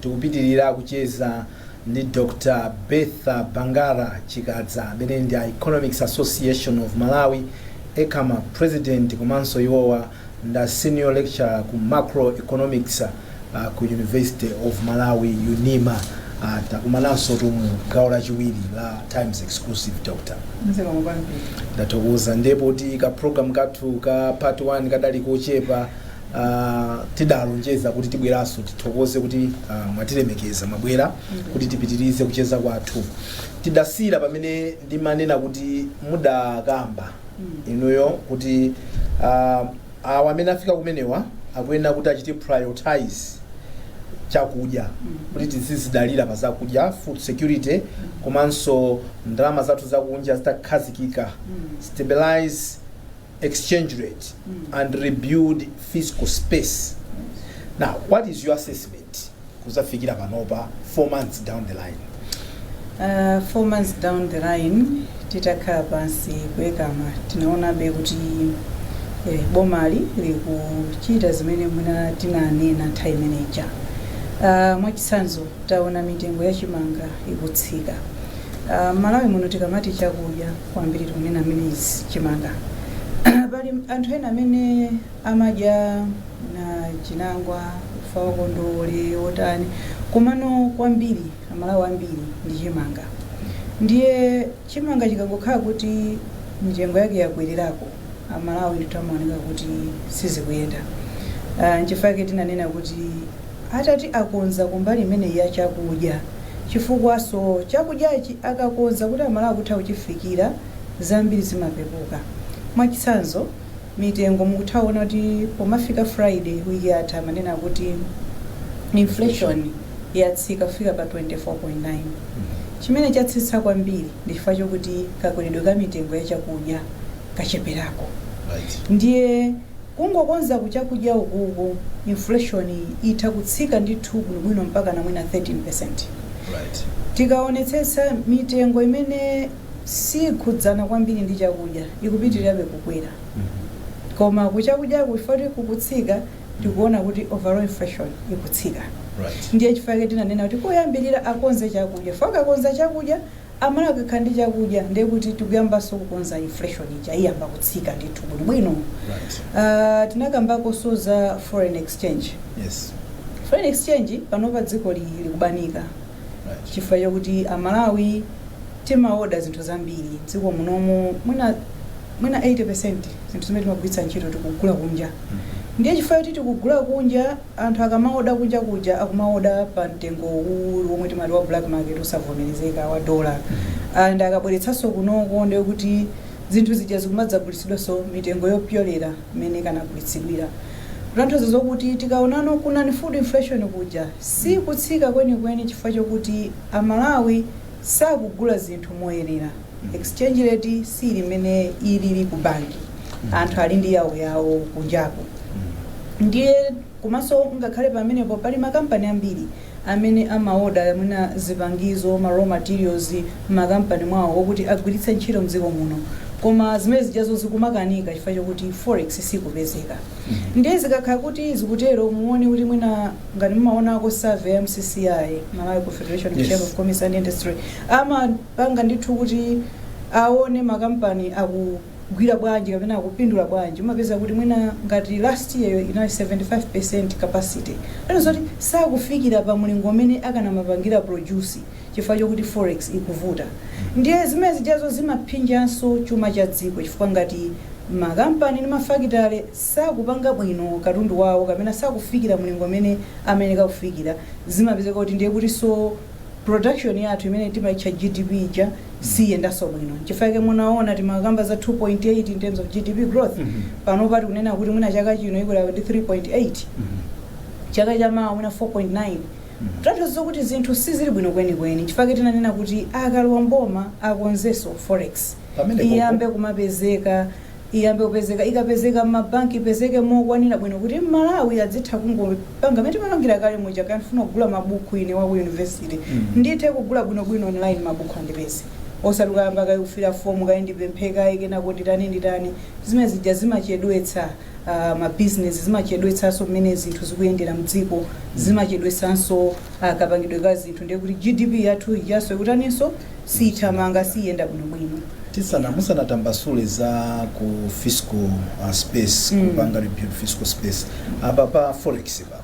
Tikupitilira kucheza ndi Dr Bertha Bangara Chikadza amene ndi a Economics Association of Malawi, Ecama, President komanso iwowa nda Senior Lecturer ku Macroeconomics ku University of Malawi, Unima. Takumanansotu mu gawo lachiwiri la Times Exclusive, Dr. Ndathokoza. Ndiye poti ka program kathu ka part 1 kadali kochepa, Uh, tidalonjeza kuti tibweranso tithokoze kuti uh, mwatilemekeza mwabwera kuti tipitirize kucheza kwathu tidasiira pamene ndimanena kuti mudakamba inuyo kuti uh, awa amene afika kumenewa akuyenera kuti achite prioritize chakudya kuti tizizidalira pa zakudya food security komanso ndalama zathu zakunja zitakhazikika stabilize exchange rate and rebuild fiscal space now what is your assessment kuzafikira panopa four months down the line Uh, four months down the line titakhala pansi ku Ecama tinaonabe kuti eh, bomali likuchita zimene mwina tinanena nthawi imeneja uh, mwachitsanzo taona mitengo ya chimanga ikutsika uh, Malawi muno tikamati chakudya kwambiri tikunena mmenezi chimanga pali anthu ena amene amadya na chinangwa ufa wa kondowole otani komano kwambiri amalawi ambiri ndi chimanga ndiye chimanga chikangokhala kuti mitengo yake yakwererako amalawi ndithu amaoneka kuti sizikuyenda Ah, nchifukwa chake tinanena kuti Atati akonza kumbali imeneyi ya chakudya chifukwanso chakudyachi akakonza kuti amalawi akutha kuchifikira zambiri zimapepuka mwachitsanzo mitengo mukutha kuona kuti pomafika Friday week yatha amanena kuti inflation yatsika kufika pa 24.9 chimene chatsitsa kwambiri ndi chifukwa chokuti kakweredwe ka mitengo ya chakudya kacheperako ndiye Kungokonza ku chakudya ukuku inflation yi itha kutsika ndithu bwinobwino mpakana mwina 13%. Tikaonetsetsa mitengo imene sikhudzana kwambiri ndi chakudya ikupitilirabe kukwera koma ku chakudyaku chifukwa choti kukutsika tikuona kuti overall inflation ikutsika ndiye chifukwa chake tinanena kuti koyambilira akonze chakudya chifukwa akakonza chakudya Amalawi akakhala ndi chakudya ndiye kuti tikuyambanso kukonza inflation ija iyamba kutsika ndithu bwinobwino. Right. Tinakambakonso za foreign exchange. Yes. Foreign exchange panopa dzikoli likubanika Right. chifukwa chokuti amalawi timaoda zinthu zambiri dziko munomu mwina mwina 80% zinthu zimene timagwiritsa ntchito tikugula kunja Mhm. ndiye chifukwa choti tikugula kunja Anthu akamaoda kunja kuja akumaoda pa mtengo uwuwulu womwe timati wa black market wosavomerezeka wa dollar and akabweretsanso kunoko ndiye kuti zinthu zija zikumadzagulitsidwanso mitengo yopyolera mmene ikanagulitsidwira kutanthauza zokuti tikaonano ku non food inflation kuja si kutsika kwenikweni chifukwa chokuti a Malawi sakugula zinthu moyenera. exchange rate siili mmene ilili ku banki anthu ali ndi yawo yawo kunjako ndiye komanso ngakhale pamenepo pali makampani ambiri amene amaoda mwina zipangizo ma raw materials mmakampani mwawo okuti agwiritse ntchito mdziko muno koma zimene zijazo zikumakanika chifukwa chokuti forex sikupezeka ndiye zikakhala kuti zikutero muone kuti mwina ngati mumaonako survey ya mccci malawi confederation of chamber of commerce and industry ama panga ndithu kuti aone makampani akugwira bwanji kapena akupindula bwanji umapeza kuti mwina ngati last year yo inali 75% capacity zoti sakufikira pa mlingo umene akanamapangira produce chifukwa chokuti forex ikuvuta ndiye zimene zijazo zimaphinjanso chuma cha dziko chifukwa ngati makampani ndi mafakitale sakupanga bwino katundu wawo kapena sakufikira mlingo umene amayenera kufikira zimapezeka kuti ndiye kutinso production yathu imene timaitcha GDP ija siiyendanso bwino nchifukwa chake munaona timakamba za 2.8 in terms of GDP growth panopa tikunena kuti mwina chaka chino ikula ndi 3.8 chaka cha mawa mwina 4.9 kutanthauza kuti zinthu sizili bwino kwenikweni nchifukwa chake tinanena kuti akalowa mboma akonzenso forex iyambe kumapezeka iyambe kupezeka. Ikapezeka m'mabanki, ipezeke mokwanira bwino kuti Mmalawi azitha kungopanga mmene timapangira kale muja, kaya ndifuna kugula mabuku ine wa ku yunivesite, ndithe kugula bwinobwino online mabuku andipeze. Osati kukayamba kaye kufila fomu kaye ndipemphe kaye kenako nditani nditani. Zimene zija zimachedwetsa mabizinesi, zimachedwetsanso mmene zinthu zikuyendera m'dziko, zimachedwetsanso kapangidwe ka zinthu ndiye kuti GDP yathu ijanso ikutaninso? sithamanga siyenda bwinobwino tisana musanatambasule za ku fiscal uh, space Mm. kupanga rebuild fiscal space apa pa forex pa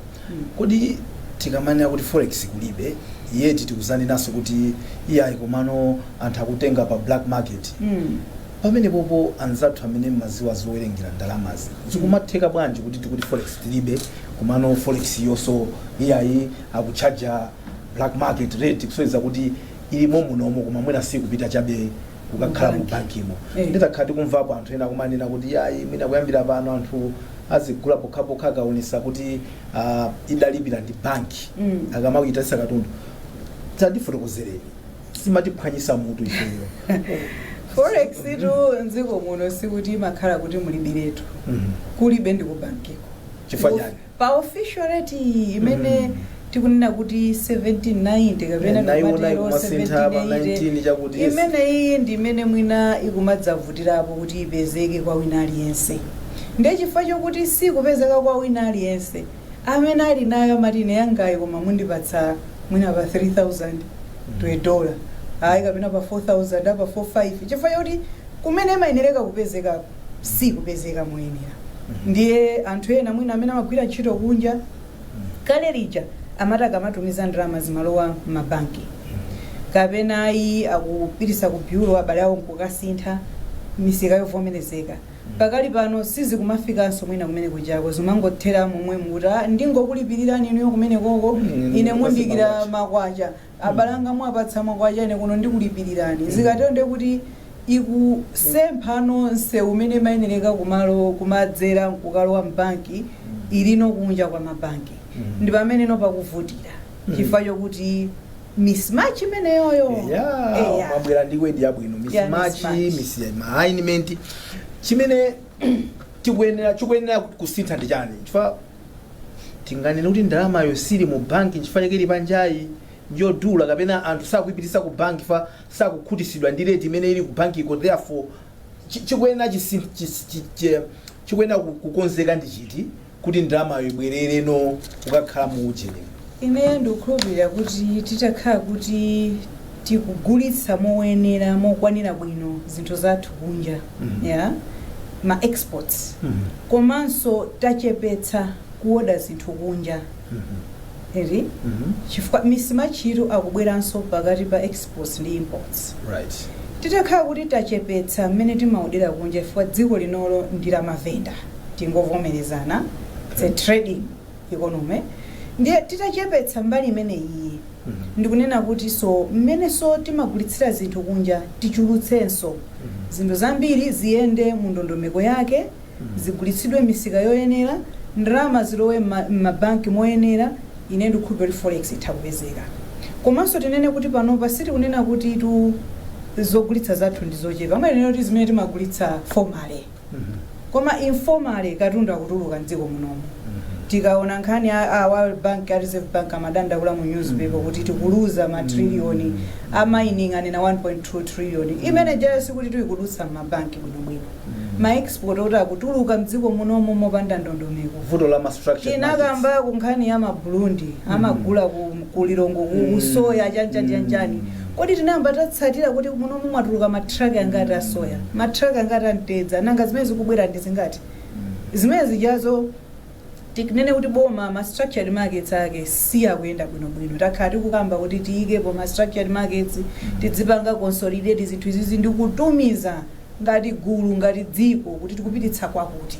kodi tikamanena kuti forex kulibe yeti tikuzanenanso kuti iyayi komano anthu akutenga pa black market Mm. pamene popo anzathu amene mmaziwa zowerengera ndalamazi zikumatheka bwanji kuti tikuti forex tilibe komano forex iyonso iyayi akuchaja black market rate kusonyeza kuti ilimo munomo koma mwina sikupita chabe kukakhala mu bankimo Eh. nditakhala tikumvapo anthu ena kumanena kuti iyayi mwina kuyambira pano anthu azigula pokhapokha akaonesa kuti ah, idalipira ndi banki Mm. akamayitanisa katundu tatifotokozereni zimatiphwanyisa mutu ifeyo forex tu mdziko muno sikuti imakhala kuti mulibiretu Mhm. kulibe ndi kubankiko Chifukwa chani? Pa official rate iyi imene tikunena kuti 1790 Eh, kapena ndaiona tikatero ikumasintha pa 19 chakuti 1780 yes. imeneyi ndi imene mwina ikumadzavutirapo kuti ipezeke kwa wina aliyense ndiye chifukwa chokuti sikupezeka kwa wina aliyense amene ali nayo amati ine yangayi koma mundipatsa mwina pa 3000 to a dollar ayi kapena pa 4000 pa 45 chifukwa choti kumene imayenereka kupezekako sikupezeka moyenera ndiye anthu ena mwina amene amagwira ntchito kunja kale lija amati akamatumiza ndalama zimalowa m'mabanki kapena ayi akupititsa ku byulo abale awo nkukasintha misika yovomerezeka pakali pano sizikumafikanso mwina kumene kujako zimangothera momwe kuti ndingokulipirira inuyo kumene koko Mm, ine mundikira makwacha abale anga mwapatsa makwacha ine kuno ndikulipilirani zikatero ndiye kuti ikusempha no msewu umene imayenereka kumalo kumadzera nkukalowa mbanki ilino kunja kwa mabanki ndi pamene no pakuvutira chifukwa chokuti mismatch imeneyoyo Yeah, Eya. mwabwera ndi wedi yabwino Yeah, misimachi mismatch. misalignment chimene tikuyenera chikuyenera kusintha ndi chani chifukwa Tinganene kuti ndalamayo sili mu banki nchifukwa chake ili panjayi, njodula kapena anthu sakuipititsa ku banki chifukwa sakukhutitsidwa ndi rate imene ili ku bankiko therefore chi, chikuyenera chisi, chis, chi, chi, chikuyenera ku- kukonzeka ndi chiti kuti ndalamayo ibwerere no kukakhala mu ujeni. Ineyo ndikukhulupirira kuti titakhala kuti tikugulitsa moyenera, mokwanira bwino zinthu zathu kunja Mhm. ya ma exports Mhm. komanso tachepetsa kuoda zinthu kunja Mhm. eri Mhm. chifukwa misimachitu akubweranso pakati pa exports ndi imports Right. titakhala kuti tachepetsa mmene timaodera kunja chifukwa dziko linolo ndi la mavenda tingovomerezana it's a trading economy ndiye titachepetsa mbali imeneyiyi ndikunena kuti so mmene so timagulitsira zinthu kunja tichulutsenso zinthu zambiri ziyende mu ndondomeko yake zigulitsidwe misika yoyenera ndalama zilowe mma- mmabanki moyenera ine ndikukhulupira kuti forex itha kupezeka komanso tinene kuti panopa sitikunena kuti tu zogulitsa zathu ndi zochepa amayenera kuti zimene timagulitsa formally koma informally katundu akutuluka mdziko munomu tikaona nkhani a, a world bank a reserve bank amadandaula mu newspaper kuti tikuluza ma trillion a mining anena 1.2 trillion imene ijayo sikuti tikudutsa m'mabanki bwinobwino ma export oti akutuluka mdziko munomu mopanda ndondomeko vuto la ma structure tinakambako nkhani ya mabulundi amagula ku, ku lilongo ku, ku soya chanjanjanjani Kodi tinayamba tatsatira kuti munomu mwatuluka ma truck angati a soya? Ma truck angati a mtedza? Nanga zimene zikubwera ndi zingati? Zimene zijazo tikunena kuti boma ma structured markets ake sakuyenda bwino bwino. Takhala tikukamba kuti tiyikepo ma structured markets, tidzipanga consolidate zinthu izizi ndi kutumiza ngati gulu ngati dziko kuti tikupititsa kwakuti.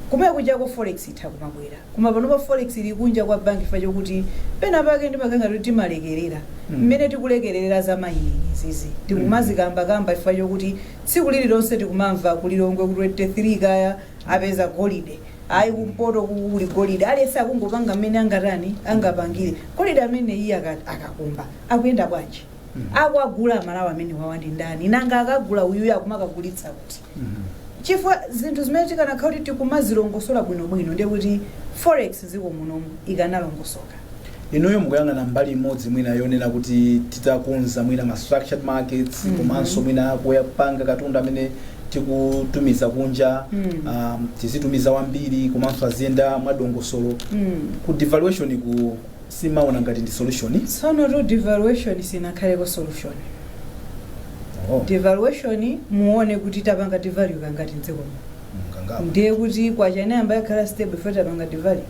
Kumene kujako forex itha kumabwera. Koma panopa forex ili kunja kwa bank chifukwa chokuti pena pake ndimakhala ngati kuti timalekerera mmene tikulekererera za mining izizi. Tikumazikamba kamba chifukwa chokuti tsiku lililonse tikumamva ku Lilongwe ku 23 kaya apeza golide. Ayi kumpoto uku kuli golide. Aliyense akungopanga mmene angatani angapangire. Golide ameneuyu aka- akakumba akuyenda bwanji? Akuwagula amalawi amenewawa ndi ndani? Nanga akagula uyuyu akumakagulitsa kuti? Chifukwa zinthu zimene tikanakhala kuti tikumazilongosola bwinobwino ndiye kuti forex dziko munomu ikanalongosoka. Inuyo mukuyang'ana mbali imodzi mwina yonena kuti titakonza mwina ma structured markets mm -hmm. komanso mwina kuyapanga katundu amene tikutumiza kunja mm. um, tizitumiza wambiri komanso aziyenda mwadongosolo mm. ku devaluation uku simaona ngati ndi solution tsono to devaluation sinakhaleko solution Oh, devaluation muone kuti tapanga devalue kangati mdziko muno mkangawa. ndiye kuti kwacha inayamba yakhala stable ife tapanga devalue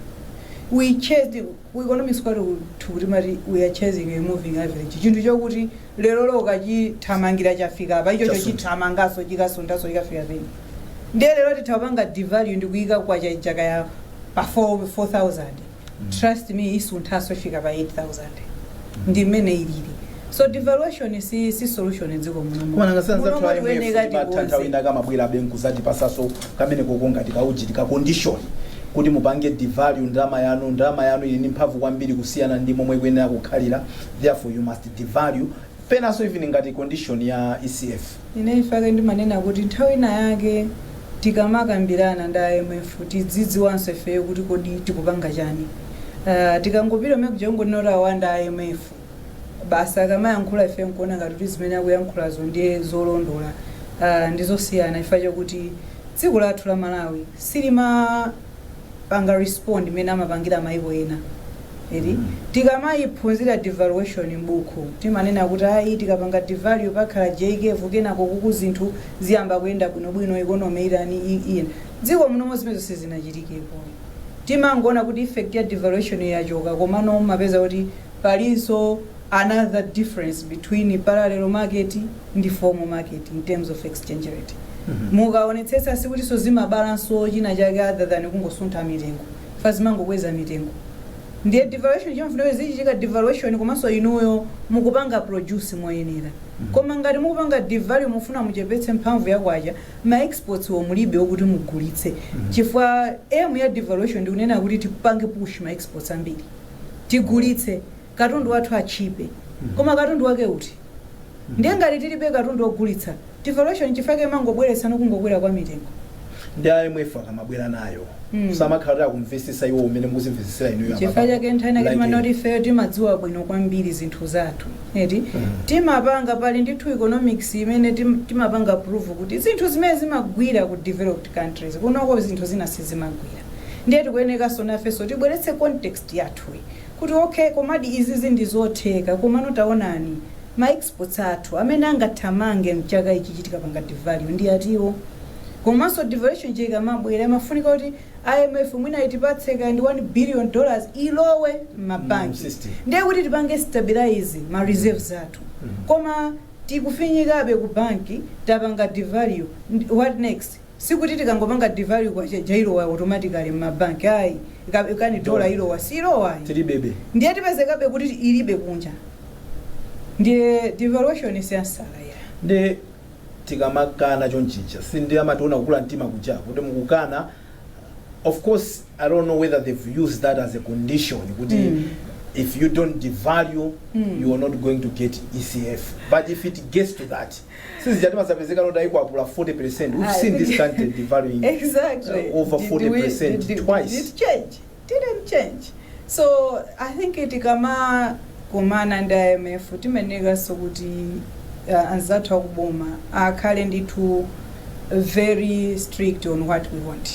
we chased ku economics kwathu kuti timati we are chasing a moving average chinthu chokuti lero lokha chithamangira chafika apa ichocho Chasuntha. chithamanganso chikasunthanso chikafika pena ndiye lero titha kupanga devalue ndikuyika kwacha ija kaya pa 4 4000 trust me isunthanso ifika pa 8000 ndi mmene ilili so devaluation si, si solution dziko munomo koma nanga sanza Munomo try tiyeneka mwe batantha tikonze. wina kamabwera be nkuzati patsanso kameneko ngati kaujeni ka condition kuti mupange devalue ndalama yanu ndalama yanu ili ndi mphamvu kwambiri kusiyana ndi momwe kuyenera kukhalira therefore you must devalue Penanso even ngati condition ya ECF. Ine chifukwa chake ndimanena kuti nthawi ina yake tikamakambirana ndi a IMF tidzidziwanso ifeyo kuti kodi tikupanga chani. Uh, tikangopita kumene kuja kungonena kuti awa ndi a IMF basi akamayankhula ife nkuona ngati kuti zimene akuyankhulazo ndiye zolondola uh, ndi zosiyana chifukwa chakuti dziko lathu la Malawi silima panga respond mmene amapangira maiko ena eti tikamayiphunzira devaluation m'buku timanena kuti ayi tikapanga devalue pakhala J-curve kenako kuku zinthu ziyamba kuyenda bwinobwino economy itani i- iyenda dziko munomo zimenezo sizinachitikepo timangoona kuti effect ya devaluation yo yachoka komano mumapeza kuti Palinso another difference between parallel market ndi formal market in terms of exchange rate. Mukaonetsetsa sikutinso zimabalanso chinachake other than kungosuntha mitengo chifukwa zimangokweza mitengo. Ndiye devaluation imafunika kuti izichitika devaluation komanso inuyo mukupanga produce moyenera. Koma ngati mukupanga devalue mufuna muchepetse mphamvu ya kwacha, ma exports mulibe okuti mugulitse. Chifukwa aim ya devaluation ndikunena kuti tipange push ma exports ambiri. tigulitse katundu wathu atchipe koma katundu wake uti ndiye ngati tilibe katundu ogulitsa devaluation nchifukwa chake imangobweretsano kungokwera kwa mitengo ndi a IMF akamabwera nayo Mm. samakhala kuti akumvesesa iwo umene mukuzimvesesera inuyo apa. Chifukwa chake nchani Like timanena kuti ifeyo timadziwa bwino kwambiri zinthu zathu eti timapanga pali ndithu economics imene tim- timapanga prove kuti zinthu zimene zimagwira ku developed countries kunoko zinthu zina sizimagwira ndiye tikuyenekanso nafenso tibweretse context yathuyi kuti okay komadi izizi ndi zotheka komano taonani ma exports athu amene angathamange mchaka ichichi tikapanga devalue ndi atiwo komanso devaluation ija ikamabwera imafunika kuti imf mwina itipatse kaya ndi 1 billion dollars ilowe m'mabanki system. ndiye kuti tipange stabilize ma reserves athu koma tikufinyikabe ku banki tapanga devalue ndi- what next Sikuti tikangopanga devalue kwacha ija ilowa automatically mma bank ayi, kani dollar ilowa siilowa ayi Tilibebe. ndiye tipezekabe kuti ilibe kunja ndiye devaluation si ansala yake. nde tikamakana chonchija sindiye amationa kukula mtima kuja kuti mukukana of course i dont know whether they've used that as a condition kuti Mm. if you don't devalue Mm. you are not going to get ecf but if it gets to that si zija timazapezeka kuti ayikwapula 40 percent we've seen this country devaluing exactly uh, over 40 did we, percent did, did, twice did change didn't change so i think tikamakumana ndi imf timayenekanso kuti uh, anzathu akuboma akhale ndithu very strict on what we want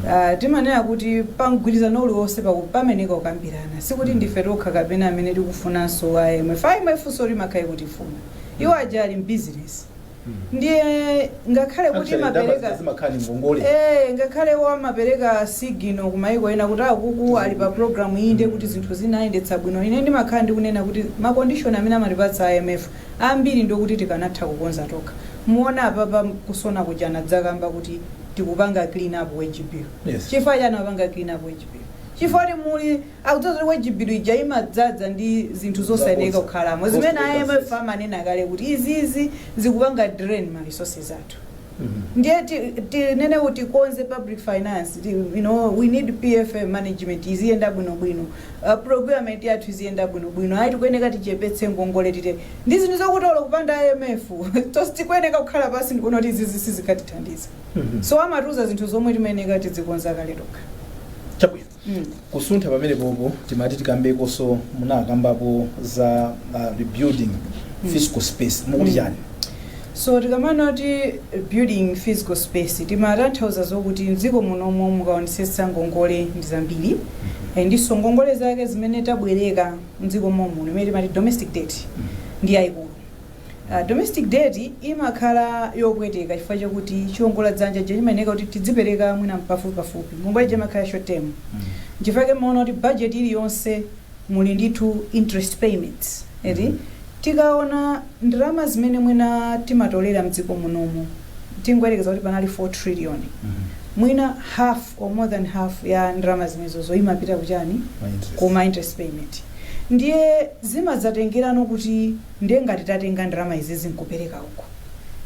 Uh, timanena kuti pamgwirizano uliwonse paku- pamayeneka kukambirana sikuti ndife tokha kapena amene tikufunanso imf imf nso imakhala ikutifuna iwo aja ali mbizinesi ndiye ngakhale kuti Actually, ndalama amapereka zija zimakhala ni ngongole Eh, ngakhale iwo amapereka signal ku maiko ena kuti akuku ali pa programu iyi ndiye kuti zinthu zinayendetsedwa bwino ine ndimakhala ndikunena kuti makondishoni amene amatipatsa a imf ambiri ndiokuti tikanatha kukonza tokha muona apapa kusona kuja anadzakamba kuti tikupanga clean up wage bill Yes. chifukwa chani akupanga clean up wage bill chifukwa kuti muli Akudziwa zoti wage bill ija imadzadza ndi zinthu zosayeneka kukhalamo zimene a IMF amanena kale kuti izizi zikupanga drain ma resources athu ndiye ti- tinene kuti tikonze public finance ti- you know, we need pfm management iziyenda bwinobwino uh, procurement yathu iziyenda bwinobwino ayi tikuyeneka tichepetse ngongole tite ndi zinthu zokuti olo kupanda imf tonse tikuyeneka kukhala pansi ndikuona kuti izizi sizikatithandiza so amatiuza zinthu zomwe timayeneka tidzikonza kale tokha chabwino kusuntha pamenepopo timati tikambekonso munakambapo za uh, rebuilding fiscal space mukuti chani so tikamana kuti rebuilding fiscal space timatanthauza zokuti mdziko munomo mukaonetsetsa ngongole ndi zambiri Eh, ndiso ngongole zake zimene tabwereka mdziko mommuno imene timati domestic debt ndi yayikulu Domestic debt imakhala yopweteka chifukwa chakuti chiongola dzanja chija chimayeneka kuti tidzipereka mwina pafupipafupi. Ngongole ija imakhala ya short term. Nchifukwa chake mumaona kuti budget iliyonse muli ndithu interest payments eti. Tikaona ndalama zimene mwina timatolera mdziko munomo tingoyerekeza kuti panali 4 trillion. Mwina half or more than half ya ndalama zimenezozo imapita kuchani? Ma interest. Ku ma interest payment. Ndiye zimadzatengerano kuti. Ndiye ngati tatenga ndalama izizi nkupereka uko,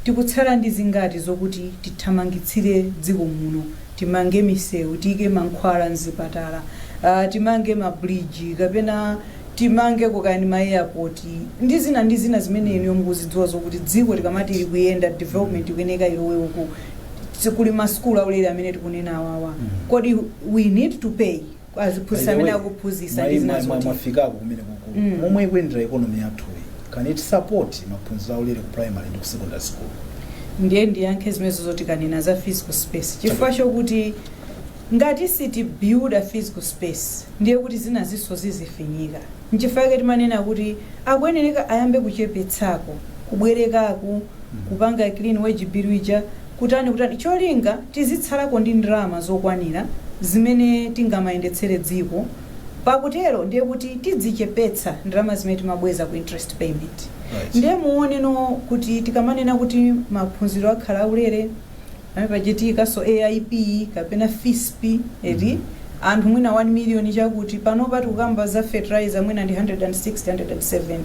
tikutsala ndi zingati zokuti tithamangitsire dziko muno, timange misewu, tiike mankhwala mzipatala, aah, timange ma bridge, kapena timangeko kaya ndi ma airport, ndi zina ndi zina zimene inuyo mukuzidziwa zokuti dziko tikamati likuyenda, development ikuyeneka ilowe uku, kuli ma sukulu aulere amene tikunena awawa, kodi we need to pay? kwa aziphunzitsi By the amene way, akuphunzitsa mwa- ndi zina mwa- mwa- zoti mwafikapo kumene kukulu Mm. momwe ikuyendera economy yathuyi can it support maphunziro aulere ku primary ndi ku secondary school ndiye ndiyankhe zimenezo zoti tikanena za fiscal space chifukwa chokuti ngati sitibuilda fiscal space ndiye kuti zinazinso zizifinyika nchifukwa chake timanena kuti akuyenereka ayambe kuchepetsako kubwerekako kupanga clean wage bill ija kutani kutani cholinga tizitsalako ndi ndalama zokwanira zimene tingamayendetsere dziko pakutero ndiye kuti tidzichepetsa ndalama zimene timabweza ku interest payment Right. ndiye muoneno kuti tikamanena kuti maphunziro akhala aulere apa pachitikanso aip kapena fisp eti anthu mwina 1 million chakuti panopa tikukamba za fertilizer mwina ndi 160 170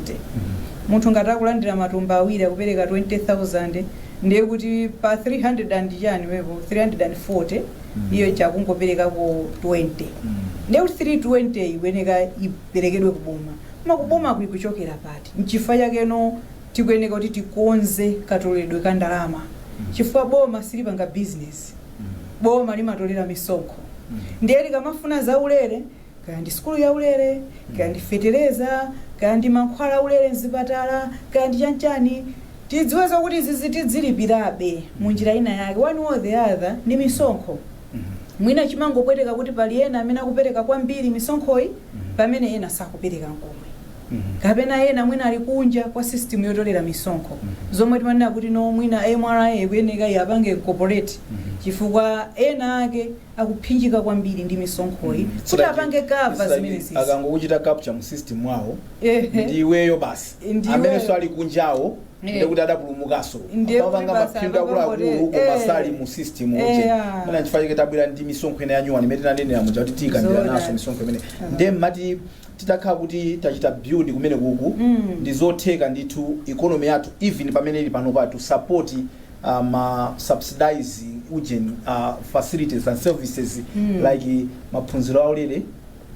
munthu ngati akulandira matumba awiri akupereka 20000 ndiye kuti pa 300 and chani apo 340 iyo chakungoperekako 20 ndiye kuti 320 ikuyeneka iperekedwe kuboma koma kuboma ko ikuchokera pati nchifukwa chakeno tikuyeneka kuti tikonze katoleredwe ka ndalama chifukwa boma silipanga bizinesi boma limatolera misonkho ndiye likamafuna zaulere kaya ndi sukulu yaulere kaya ndi fetereza kaya ndi mankhwala aulere mzipatala kaya ndi chanchani tidziwe zakuti zizi tidzilipirabe mu njira ina yake one or the other ndi misonkho mwina chimangopweteka kuti pali ena amene akupereka kwambiri misonkhoyi pamene ena sakupereka nkomwe kapena ena mwina ali kunja kwa system yotolera misonkho zomwe timanena kuti no mwina mra ikuyeneka iwapange incorporate chifukwa ena ake akuphinjika kwambiri ndi misonkhoyi kuti apange cover zimenezizi akangokuchita capture mu system mwawo Ehe. ndi iweyo basi amene so ali kunjawo ndekuti adapulumukaso akupanga maphindu akuluakulu koma sali mu system ochemana nchifukwa chake tabwera ndi misonkho ina yanyuwani imene tinanenera muja kuti tiyika ndiranso misonkho imene ndiye mmati titakhala kuti tachita build kumene kuku Mm. ndi zotheka ndithu economy yathu even pamene ili pano patu support ma subsidized ujeni uh, facilities and services mm. like maphunziro aulere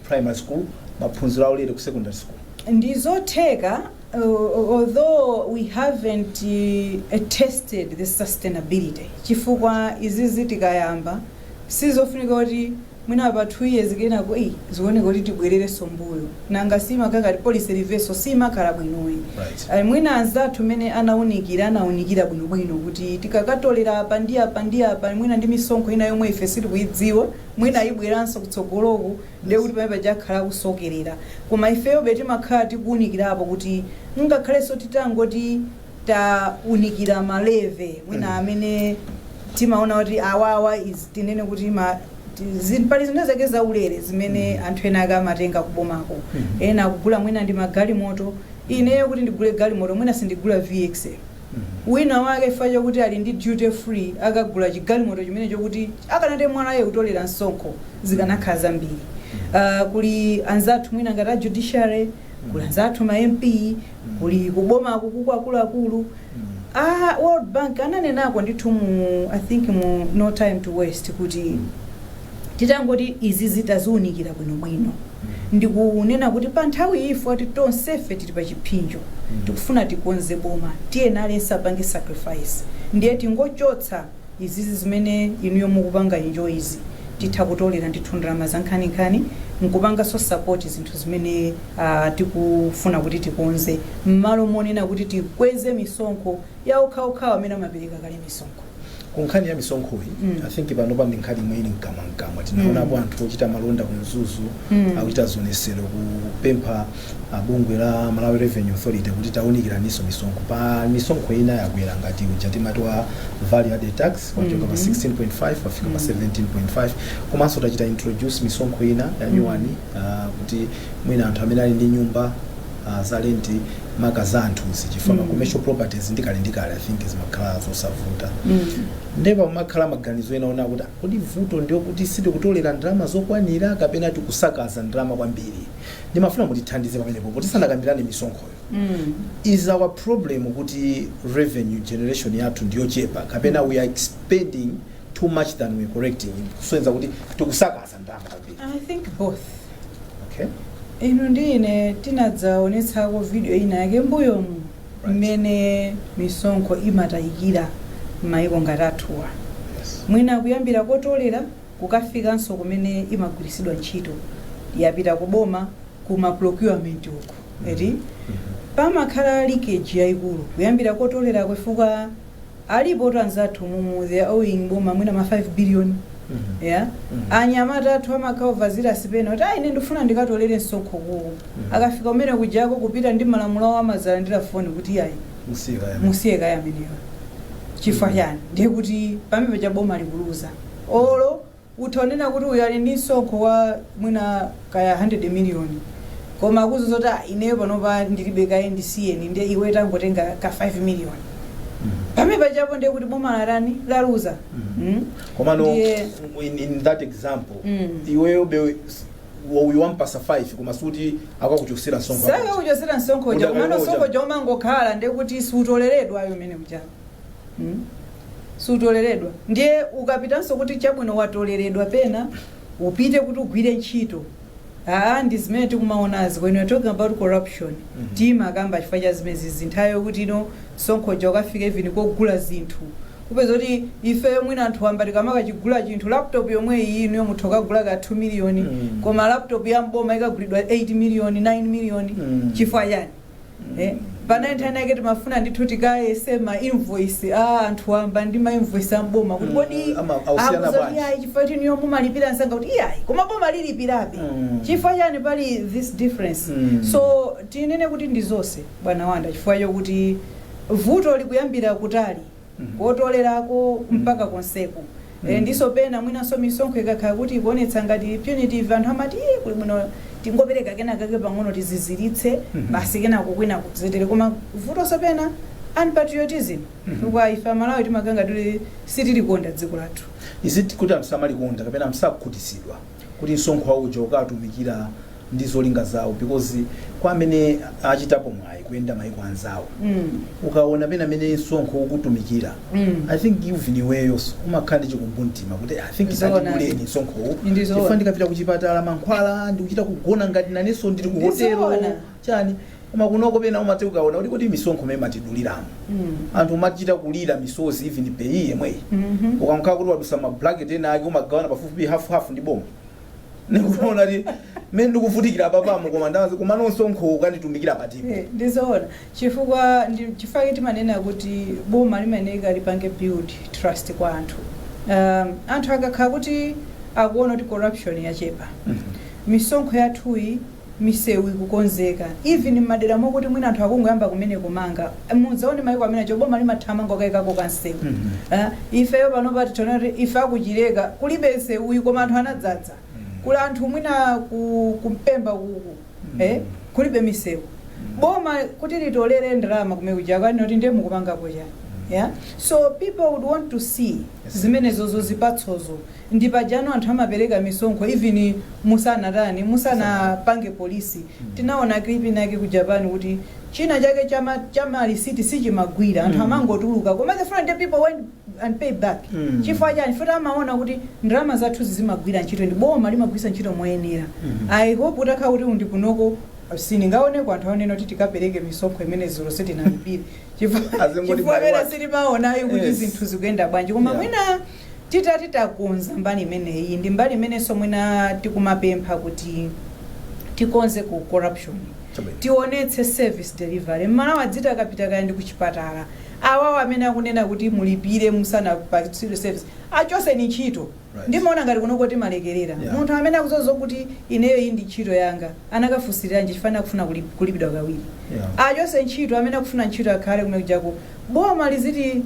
primary school maphunziro aulere ku secondary school ndizotheka uh, although we haven't uh, tested the sustainability chifukwa izizi tikayamba sizofunika kuti mwina pa 2 years kenako ii zioneka kuti tibwererenso mbuyo nanga simakakhala kuti policy reversal simakhala bwinoyi Right. Ayi, mwina anzathu mmene anaunikira anaunikira bwinobwino kuti tikakatolera apa ndi apa ndi apa mwina ndi misonkho ina yomwe ife sitikuidziwa mwina ayibweranso kutsogoloku ndiye kuti pamene paja akhala akusokerera koma ifeyobe timakhala tikuunikirapo kuti ngakhalenso titangoti taunikira ma level mwina amene timaona kuti awawa is tinene kuti ma ti- zi- pali zinthu zake zaulere zimene anthu ena ake amatenga kubomako ena akugula mwina ndi magalimoto ineyo kuti ndigule galimoto mwina sindigula vxl wina wake chifukwa chokuti ali ndi duty free akagula chigalimoto chimene chokuti akanati MRA ikutolera msonkho zikanakhala zambiri uh, kuli anzathu mwina ngati a judiciary kuli anzathu ma mp kuli kubomaku kuku akuluakulu world bank ananenako ndithu mu i think mu no time to waste kuti titangoti izi zitaziunikira bwinobwino ndikunena kuti pa nthawi iyi poti tonsefe tili pa chiphinjo tikufuna tikonze boma tiyeni aliyense apange sacrifice ndiye tingochotsa izizi zimene inuyo mukupanga enjoy'zi titha kutolera ndithu ndalama zankhaninkhani nkupanganso support zinthu zimene ah, tikufuna kuti tikonze m'malo monena kuti tikweze misonkho ya okhaokhawa amene amapereka kale misonkho ku nkhani ya misonkhoyi Mm. i think panopa ndi nkhani yomwe ili mkamwamkamwa tinaonapo anthu ochita malonda ku mzuzu Mm. akuchita zionesero kupempha a bungwe la Malawi Revenue Authority kuti tiwunikirenso misonkho pa misonkho ina yakwera ngati uja timati wa value added tax wachoka pa 16.5 wafika pa 17.5 komanso tachita introduce misonkho ina ya nyuwani ah, kuti mwina anthu amene ali ndi nyumba ah, za lenti maka za anthu zifanana commercial properties ndi kale ndi kale i think zimakhala zosavuta ndipo pamakhala maganizo ena onena kuti kodi vuto ndi loti sitikutolera ndalama zokwanira kapena tikusakaza ndalama kwambiri ndimafuna mutithandize pamenepo poti tisanakambirane misonkhoyo Mm. is our problem kuti revenue generation yathu ndiyochepa kapena we are expending too much than we are collecting kusonyeza kuti tikusakaza ndalama kwambiri i think both okay inu ndi ine tinadzaonetsako video ina yake mbuyomu Right. mmene misonkho imatayikira m'mayiko ngati athuwa yes mwina kuyambira kotolera kukafikanso kumene imagwiritsidwa ntchito yapita ku boma ku ma procurement uku eti pamakhala leakage yaikulu kuyambira kotolera chifukwa alipo kuti anzathu mumu they are owing boma mwina ma 5 billion yeah anyamata athu amakhala ovutika pena kuti ayi ine ndifuna ndikatolere msonkho uko akafika kumene kujako kupita ndi malamulo awo amadzalandira foni kuti ayi musiye kaye amene musiye kaye amenewa chifukwa chani ndiye kuti pamene paja boma likuluza Olo utha kunena kuti uyu ali ndi msonkho wa mwina kaya 100 million koma akukuuza zoti "Ah, ineyo panopa ndilibe kaye ndisiyeni nde iwe tangotenga ka 5 million pamene pachapo ndiye kuti boma latani laluza Mm. komano Ndiye- in, in that example Mm. iweyo mwina uyu wampatsa 5 koma sikuti akakuchotsera msonkho sakakuchotsera msonkho uja Uda- komano uja. msonkho uja umangokhala ndekuti siutoleredwa ayi umene uja mm? siutoleredwa ndiye ukapitanso kuti chabwino watoleredwa pena upite kuti ugwire ntchito aa ndi zimene tikumaonazi when you're talking about corruption mm -hmm. timakamba chifukwa cha zimenezi zinthuzo kuti ino msonkho uja ukafika even kogula zinthu kupeza kuti ifeyo mwina anthu wamba tikamakachigula chinthu laptop yomwe iyi inu mutha kukagula ka 2 miliyoni mm. koma laptop ya mboma ikagulidwa 8 miliyoni 9 miliyoni mm. chifukwa chani eh, panali nthawi ina yake timafuna ndithu tikayese ma invoice a anthu wamba ndi ma invoice a mboma kuti kodi Mm, ama- akusiyana akuti bwanji? kuti ayi chifukwa choti inuyo mumalipira msanga kuti iyayi koma boma lilipirabe Mm. chifukwa chani pali this difference Mm. so tinene kuti ndi zonse bwana wanda chifukwa chokuti vuto likuyambira kutali kotolerako mpaka konseko Eh, ndiponso pena mwinanso misonkho ikakhala kuti ikuonetsa ngati punitive anthu amati "Ih, kuli bwino tingopereka kenakake pang'ono tiziziritse basi kenako kwina kuzitere koma vutonso pena unpatriotism chifukwa ife amalawi timakhala ngati sitilikonda dziko lathu Is it kuti anthu samalikonda kapena sakhutitsidwa? kuti msonkho wauja ukatumikira ndi zolinga zawo because kwa amene achitapo mwayi kuyenda maiko anzathu Mm. ukaona pena amene msonkho ukutumikira Mm. i think even iweyonso umakhala ndi chikumbumtima kuti i think Zoona. tatibuleni msonkhowu Ndi zoona. chifukwa ndikapita kuchipatala mankhwala ndikuchita kugona ngati nanenso ndili ku Ndi hotelo zoona. chani koma kunoko pena umati ukaona kuti kodi misonkho imene amatiduliramo anthu umachita kulira misozi even PAYE yemweyi ukakhala kuti wadusa ma bracket ena ake umagawana pafupifupi hafu hafu ndi boma ndikuona kuti mmene ndikuvutikira panomo koma ndazi koma msonkho ukunditumikira patipo Eh, ndizoona chifukwa ndi- chifukwa chake timanena kuti boma limayenera lipange build trust kwa anthu um, anthu akakhala kuti akuona kuti corruption yachepa misonkho yathuyi misewu ikukonzeka even mmadera mokuti mwina anthu akungoyamba kumene kumanga mudzaone maiko amene ajawo boma limathamanga kukaikako ka msewu Eh, ifeyo panopa tiona kuti ife a ku Chileka kulibe msewuyi koma anthu anadzadza kuli anthu mwina ku- ku Mpemba kuku eh, kulibe misewu boma kuti litolere ndalama kumene kuja akanena kuti ndiye mukupangapo chani yeah? so people would want to see zimenezo zipatsozo ndi paja pomwe anthu amapereka misonkho even musanatani musanapange police tinaona clip inayake ku Japan kuti chinachake cha ma cha ma receipt sichimagwira anthu amangotuluka koma the following day people went and pay back chifukwa chani choti amaona kuti ndalama zathu zimagwira ntchito ndi boma limagwiritsa ntchito moyenera i hope utakhala kuti ndi kunoko sindingaoneko anthu onena kuti tikapereke misonkho imene dzulo sitinalipire Azingoti chifukwa by pena what? sitimaonayo kuti Yes. zinthu zikuyenda bwanji koma Yeah. mwina Titati takonza mbali imeneyi ndi mbali imenenso mwina tikumapempha kuti tikonze ku corruption, Chabwino. tionetse service delivery. M'Malawi adziti akapita kaya ndi kuchipatala, awowo amene akunena kuti mulipire musanapatsidwe service, achoseni ntchito. Right. Ndimaona ngati kunoko timalekerera. Yeah. Munthu amene akudziwa zokuti ineyo iyi ndi ntchito yanga, anakafunsiriranji chifukwa akufuna kulip- kulipidwa kawiri. Yeah. Achoke ntchito amene akufuna ntchito akhale kumene kujako Boma lizitiku-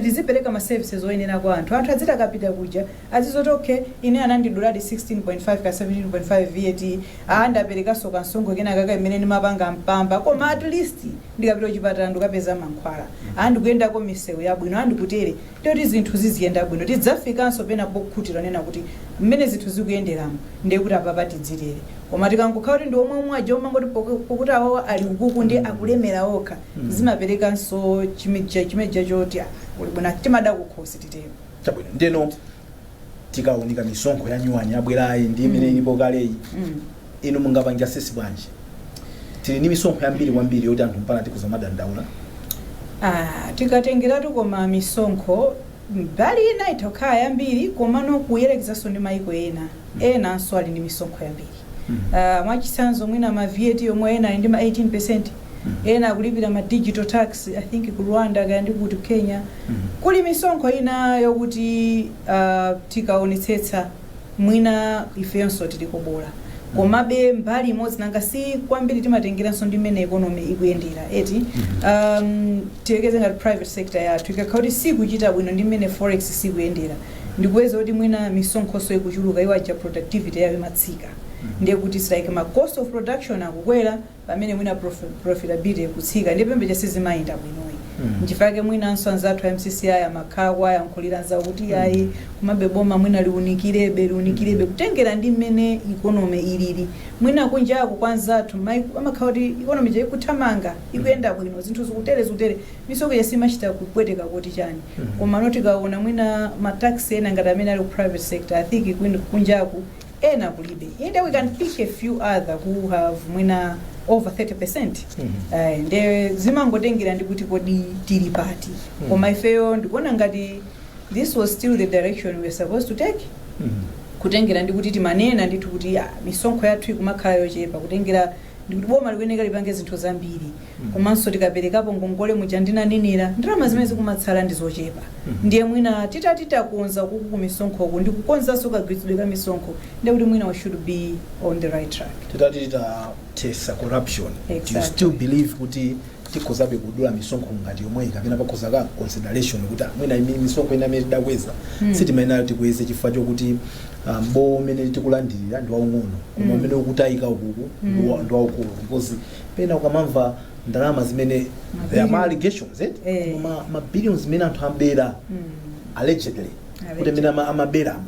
lizipereka ma services oyenera kwa anthu, anthu adziti akapita kuja azizoti okay ine anandiduladi 16.5 kaya 17.5 VAT aah ndaperekanso kansonkho kenakake imene ndimapanga Mpamba koma at least ndikapita kuchipatala ndikukapeza mankhwala aah ndikuyendako misewu yabwino aah ndikutere kuti zinthu ziziyenda bwino tidzafikanso pena pokhutitsidwa kunena kuti mmene zinthu zikuyenderamu ndiye kuti apapa tidzitere koma tikangokhala kuti ndi omwe omwe aja omangoti poku pokuti awowa ali ukoko ndiye akulemera okha zimaperekanso chimija chimija choti ah, uli bwino timada kukhosi titero chabwino ndeno tikaunika misonkho ya nyuwani yabwerayi ndi imene ilipo kaleyi Mm. inu mungapange assess bwanji tili ndi misonkho yambiri kwambiri yoti anthu mpana tikhoza madandaula Ah, tikatengeratu koma misonkho mbali ina itha kukhala yambiri komano kuyerekezanso ndi mayiko ena enanso ali ndi misonkho yambiri Ah, mwachitsanzo mwina ma VAT yomwe ena ali ndi ma 18% ena akulipira ma digital tax i think ku rwanda kaya ndi kuti kenya kuli misonkho ina yokuti ah, tikaonetsetsa mwina ifenso tiliko bola komabe mbali imodzi nanga si kwambiri timatengeranso ndi mmene economy ikuyendera eti um, tiyerekeze ngati private sector yathu ikakhala kuti sikuchita bwino ndi mmene forex sikuyendera ndikupeza kuti mwina misonkhonso ikuchuluka iwo aja productivity yawo imatsika ndiye kuti it's like ma cost of production akukwera pamene mwina prof- profitability ikutsika ndiye pamene sizimayenda bwinoyi Mm. nchifukwa chake mwinanso anzathu a mcci amakhala kuwayankhulira anzawo kuti ayi komabe boma mwina liunikirebe liunikirebe kutengera ndi mmene economy ilili mwina kunjako kwa anzathu maiko- amakhala kuti economy ija ikuthamanga ikuyenda bwino zinthu zikutere zikutere Misonkho ija simachita kupweteka kuti chani komano tikaona mwina ma tax ena ngati amene ali ku private sector I think kwin kunjaku ena kulibe ende we can pick a few other who have mwina over 30% Eh, nde zimangotengera ndi kuti kodi tili pati koma ifeyo ndikuona ngati this was still the direction we were supposed to take kutengera ndi kuti timanena ndithu kuti ah, misonkho yathu ikumakhala yochepa kutengera ndi kuti boma likuyeneka lipange zinthu zambiri komanso tikaperekapo ngongole muja ndinanenera ndalama zimene zikumatsala ndi zochepa ndiye mwina titati takonza kuku kumisonkhoku ndi kukonzanso kagwiritsidwe ka misonkho ndiye kuti mwina we should be on the right track titati titathetsa corruption do you Exactly. still believe kuti tikhozabe kudula misonkho ngati yomweyi kapena pakhoza ka consideration kuti ah, mwina imi- misonkho ina imene tidakweza Mm. sitimayenera tikweze chifukwa chokuti ah, mbowo umene tikulandirira ndi waung'ono koma Mm. umene ukutayika ukuku Mm. ndi wa- ndi waukulu because pena ukamamva ndalama zimene Mabiliyoni. there are ma allegations eh? Eh. ma, ma billions zimene anthu ambera Mm. allegedly kuti amene ama- amaberamo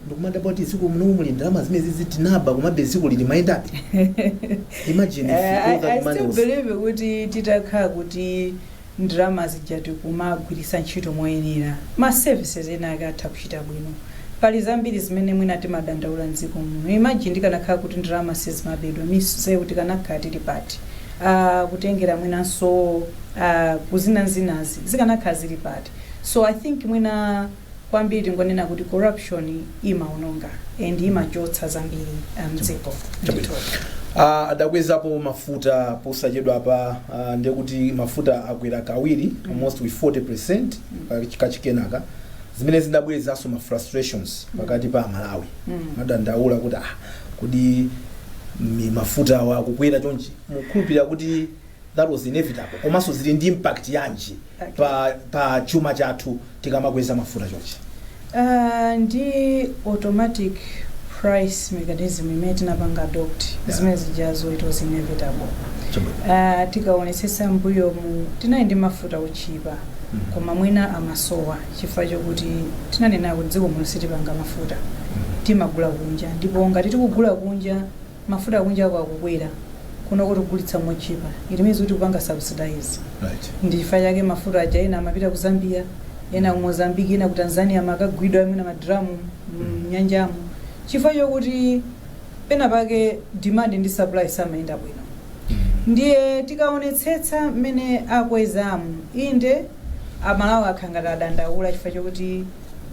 ndikumadabwa kuti m'dziko muno muli ndalama zimenezizi tinaba komabe dziko ili limayendabe imagine if Eh, I, all that I money still was- believe kuti titakhala kuti ndalama zija tikumagwiritsa ntchito moyenera, ma services ena ake atha kuchita bwino. Pali zambiri zimene mwina timadandaula m'dziko muno. Imagine tikanakhala kuti ndalama sizimabedwa, misewu tikanakhala tili pati? aah kutengera mwinanso aah ku zinazinazi zikanakhala zili pati? So I think mwina. kwambiri tingonena kuti corruption imaononga, and imachotsa zambiri uh, mdziko Chabwino. Ah, adakwezapo mafuta posachedwapa ah, ndiye kuti mafuta akwera kawiri almost with 40% pa- kachikenaka zimene zidabwerezaso ma frustrations pakati pa amalawi Mm. amadandaula kuti ah, kodi mi- mafuta awa akukwera chonchi mukukhulupirira kuti that was inevitable komanso zili ndi impact yanji Okay. pa, pa chuma chathu tikamakweza mafuta chonchi Ah, ndi automatic price mechanism imene tinapanga adopt Yeah. zimene zijazo it was inevitable Ah, tikaonetsetsa mbuyomu tinali ndi mafuta otchipa koma mwina amasowa chifukwa chokuti tinanena kuti dziko muno sitipanga mafuta timagula kunja ndipo ngati tikugula kunja mafuta akunjako akukwera kunoko tikugulitsa motchipa it means kuti tikupanga subsidize Right. ndi chifukwa chake mafuta aja ena amapita ku zambia ena ku mozambique ena ku tanzania amakagwidwa amene madramu mnyanjamu chifukwa chokuti pena pake demand ndi supply samayenda bwino ndiye tikaonetsetsa mmene akwezamu inde amalawi akhala ngati adandaula chifukwa chokuti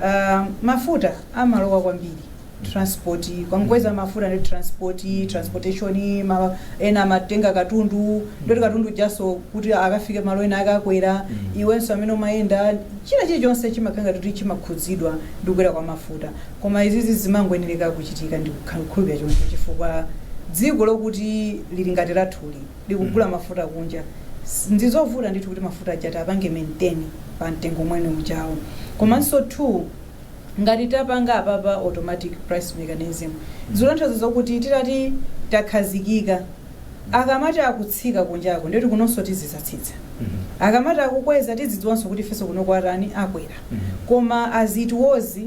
ah, mafuta amalowa kwambiri transport mukakweza mafuta ndi transport transportation amene amatenga katundu ndekuti katundu ujaso kuti akafike malo ena akakwera iwenso amene umayenda china chilichonse chimakhala ngati chimakhudzidwa ndi kukwera kwa mafuta koma izizi zimangoyenereka kuchitika ndikukhulupirira choncho chifukwa dziko lokuti lili ngati lathuli likugula mafuta kunja S- ndizovuta ndithu kuti mafuta aja apange maintain pa mtengo umene ujawo komanso two Ngati tapanga apapa automatic price mechanism zikutanthauza zokuti tikati takhazikika akamati akutsika kunjako ndeti kunonso tizidzatsitsa akamati akukwera tidzidziwanso kuti ifenso kunoko atani akwera koma as it was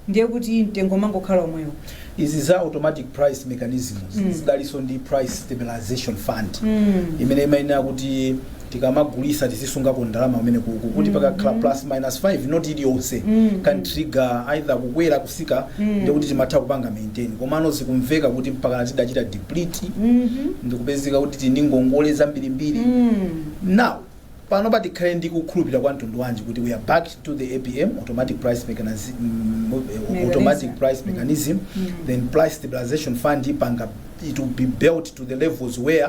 ndiye kuti mtengo umangokhala omwewo. Izi za automatic price mechanism zidaliso ndi price stabilization fund imene imayenera kuti tikamagulisa tizisungako ndalama kumene kuti pakakhala plus minus 5 notch iliyonse can trigger either kukwera kusika ndikuti timatha kupanga maintain komano zikumveka kuti mpakana tidachita deplete ndikupezeka kuti tili ndi ngongole zambirimbiri now pano pa tikhale ndi kukhulupirira kwa mtundu wanji kuti we are back to the apm automatic price mechanism, mm, Mechanism. automatic price mechanism then price stabilization fund ipanga it will be built to the levels where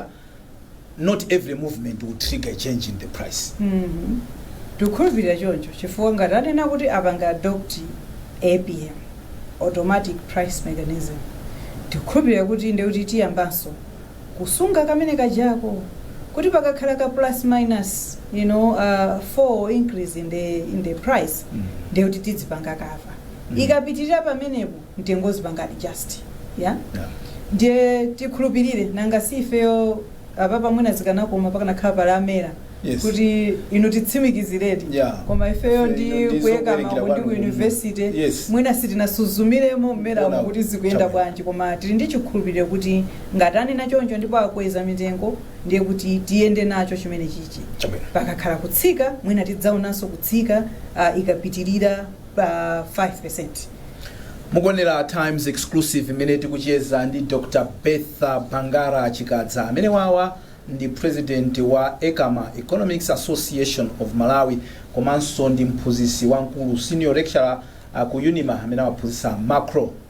not every movement will trigger a change in the price Mhm. tikukhulupirira choncho chifukwa ngati anena kuti apanga adopt apm automatic price mechanism tikukhulupirira kuti ndiye kuti tiyambanso kusunga kamene kajako kuti pakakhala ka plus minus you know uh, four increase in the, in the price Mm. ndiye kuti tidzipanga kava Mm. ikapitirira pamenepo mtengo uzipanga adjust ya ndiye tikhulupirire nanga si ifeyo apapa mwina zikanakoma pakanakhala pali a MERA Yes. kuti inu atitsimikiziredi Yeah. koma ifeyo ndi ku ECAMA ndi ku university Yes. mwina sitinasuzumiremo m'MERA-mo kuti zikuyenda bwanji koma tili ndi chikhulupiriro kuti ngati anena choncho ndipo akweza mitengo ndiye kuti tiyende nacho chimene chichi chabwino pakakhala kutsika mwina tidzaonanso kutsika uh, ikapitirira pa 5 mukuonera times exclusive imene tikucheza ndi dr bertha bangara chikadza amene awawa ndi president wa ecama economics association of malawi komanso ndi mphunzitsi wamkulu senior lecturer uh, ku unima amene amaphunzitsa macro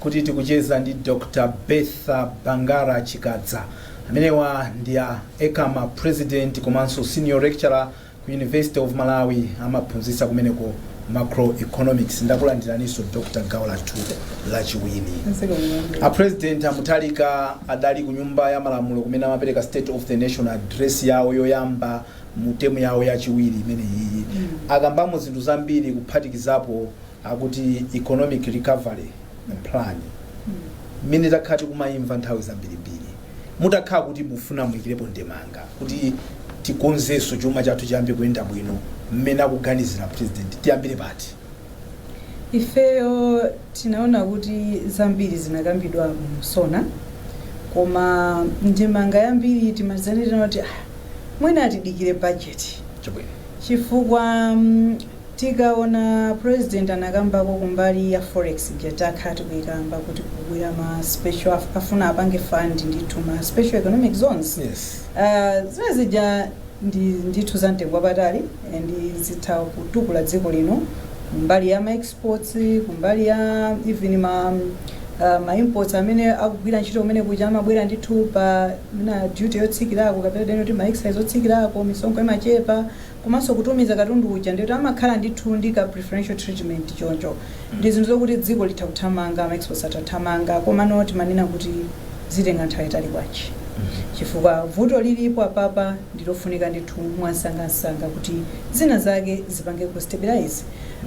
kuti tikucheza ndi Dr Bertha Bangara Chikadza. Amenewa ndi a Ecama president komanso senior lecturer ku University of Malawi amaphunzitsa kumeneko macroeconomics. Ndakulandiraninso Dr gawo lathu lachiwiri. A president a Mutharika adali ku nyumba ya malamulo kumene amapereka state of the nation address yawo yoyamba mu temu yawo yachiwiri imene iyi akambamo zinthu zambiri kuphatikizapo akuti economic recovery plan imene takhala tikumayimva nthawi zambirimbiri mutakhala kuti mufuna muikirepo ndemanga kuti tikonzenso chuma chathu chiyambe kuyenda bwino mmene akuganizira president tiyambire pati ifeyo tinaona kuti zambiri zinakambidwa mu sona koma ndemanga yambiri timauzanirana kuti "Ah, mwina tidikire bajeti chabwino chifukwa mm, Tikaona president anakambako kumbali ya forex ija takhala tikuikamba kuti kukubwera ma special af, afuna apange fund ndithu ma special economic zones Yes. Ah, zimene zija ndithu za mtengo wapatali and zitha kutukula dziko lino kumbali ya ma exports kumbali ya even ma ah, ma imports amene akugwira ntchito kumene kuja amabwera ndithu pa na duty yotsikirako kapena deno kuti ma excise otsikirako misonkho imachepa komanso kutumiza katundu uja ndiye kuti amakhala ndithu ndi ka preferential treatment choncho ndi zinthu zokuti dziko litha kuthamanga ma exports atha kuthamanga komano timanena kuti zitenga nthawi yaitali bwanji chifukwa vuto lilipo apapa ndilofunika ndithu mwansangansanga kuti zina zake zipange ku stabilize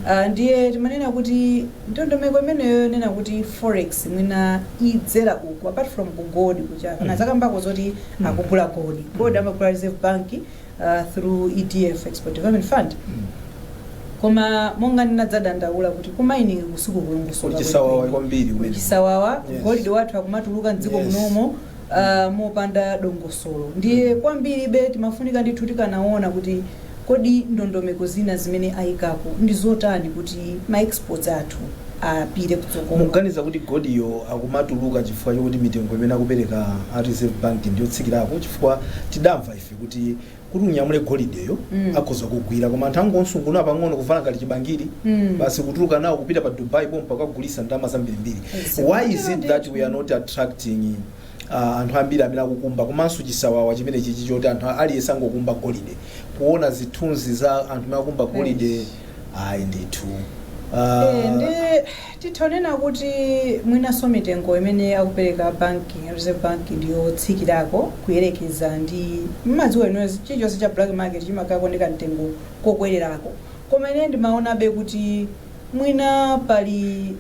uh, ndiye timanena kuti ndondomeko imeneyo yonena kuti forex mwina idzera uku apart from ku gold kuja kana zakambako zoti akugula gold gold amagula reserve bank uh, through EDF Export Development Fund koma monga ndinadzadandaula kuti ku mining kusikukulongosoka kuli chisawawa kwambiri kumene. chisawawa Yes. golide wathu akumatuluka mdziko Yes. munomo uh, mopanda dongosolo ndiye kwambiribe timafunika ndithu tikanaona kuti kodi ndondomeko zina zimene ayikapo ndi zotani kuti ma exports athu apite kutsogolo muganiza kuti golideyo akumatuluka chifukwa chokuti mitengo imene akupereka a reserve bank ndiyotsikirako chifukwa tidamva kuti kuti unyamule golideyo Mm. akhoza kugwira koma anthu angomusungunula pang'ono kuvala ngati chibangiri Mm. basi kutuluka nawo kupita pa dubai pompa kukagulitsa ndalama zambirimbiri Yes. why is it that we are not attracting uh, anthu ambiri amene akukumba komanso chisawawa chimene chichi choti anthu aliyense angokumba golide kuona zithunzi za anthu amene akumba golide Yes. ayi ndithu Eh, Ah, ndi Titha kunena kuti mwinanso mitengo imene akupereka a bank, a reserve bank ndi yotsikirako kuyerekeza ndi, mmadziwa inuyo chilichonse cha black market chimakhalako ndi kamtengo kokwererako koma ine ndimaonabe kuti mwina pali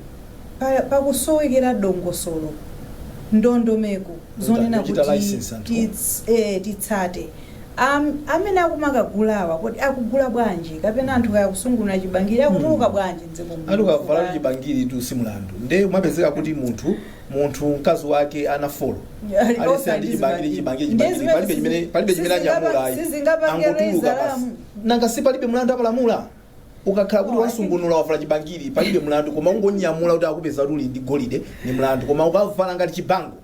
pakusowekera dongosolo, ndondomeko Kuta, zonena kuchita kuti license anthu. tits, eh, titsate. Am, amene akumakagulawa kodi akugula bwanji kapena anthu kaya akusungunula chibangiri akutuluka bwanji mdziko muno Anthu kavala chifukwa- chibangiritu si mlandu. Nde umapezeka kuti munthu munthu mkazi wake ana folo. Ali Aliyense okha ndi ndi chibangiri zibangiri. chibangiri Ndiye chibangiri palibe zimene chimene palibe chimene sizingapa- anyamula ayi. sizingapange Angotuluka raise basi. alarm. Nanga si palibe mlandu apalamula. Ukakhala kuti No, I think- wasungunula wavala chibangiri palibe mlandu koma ungonyamula kuti akupeza kuti uli ndi golide ni mlandu koma ukavala ngati chibango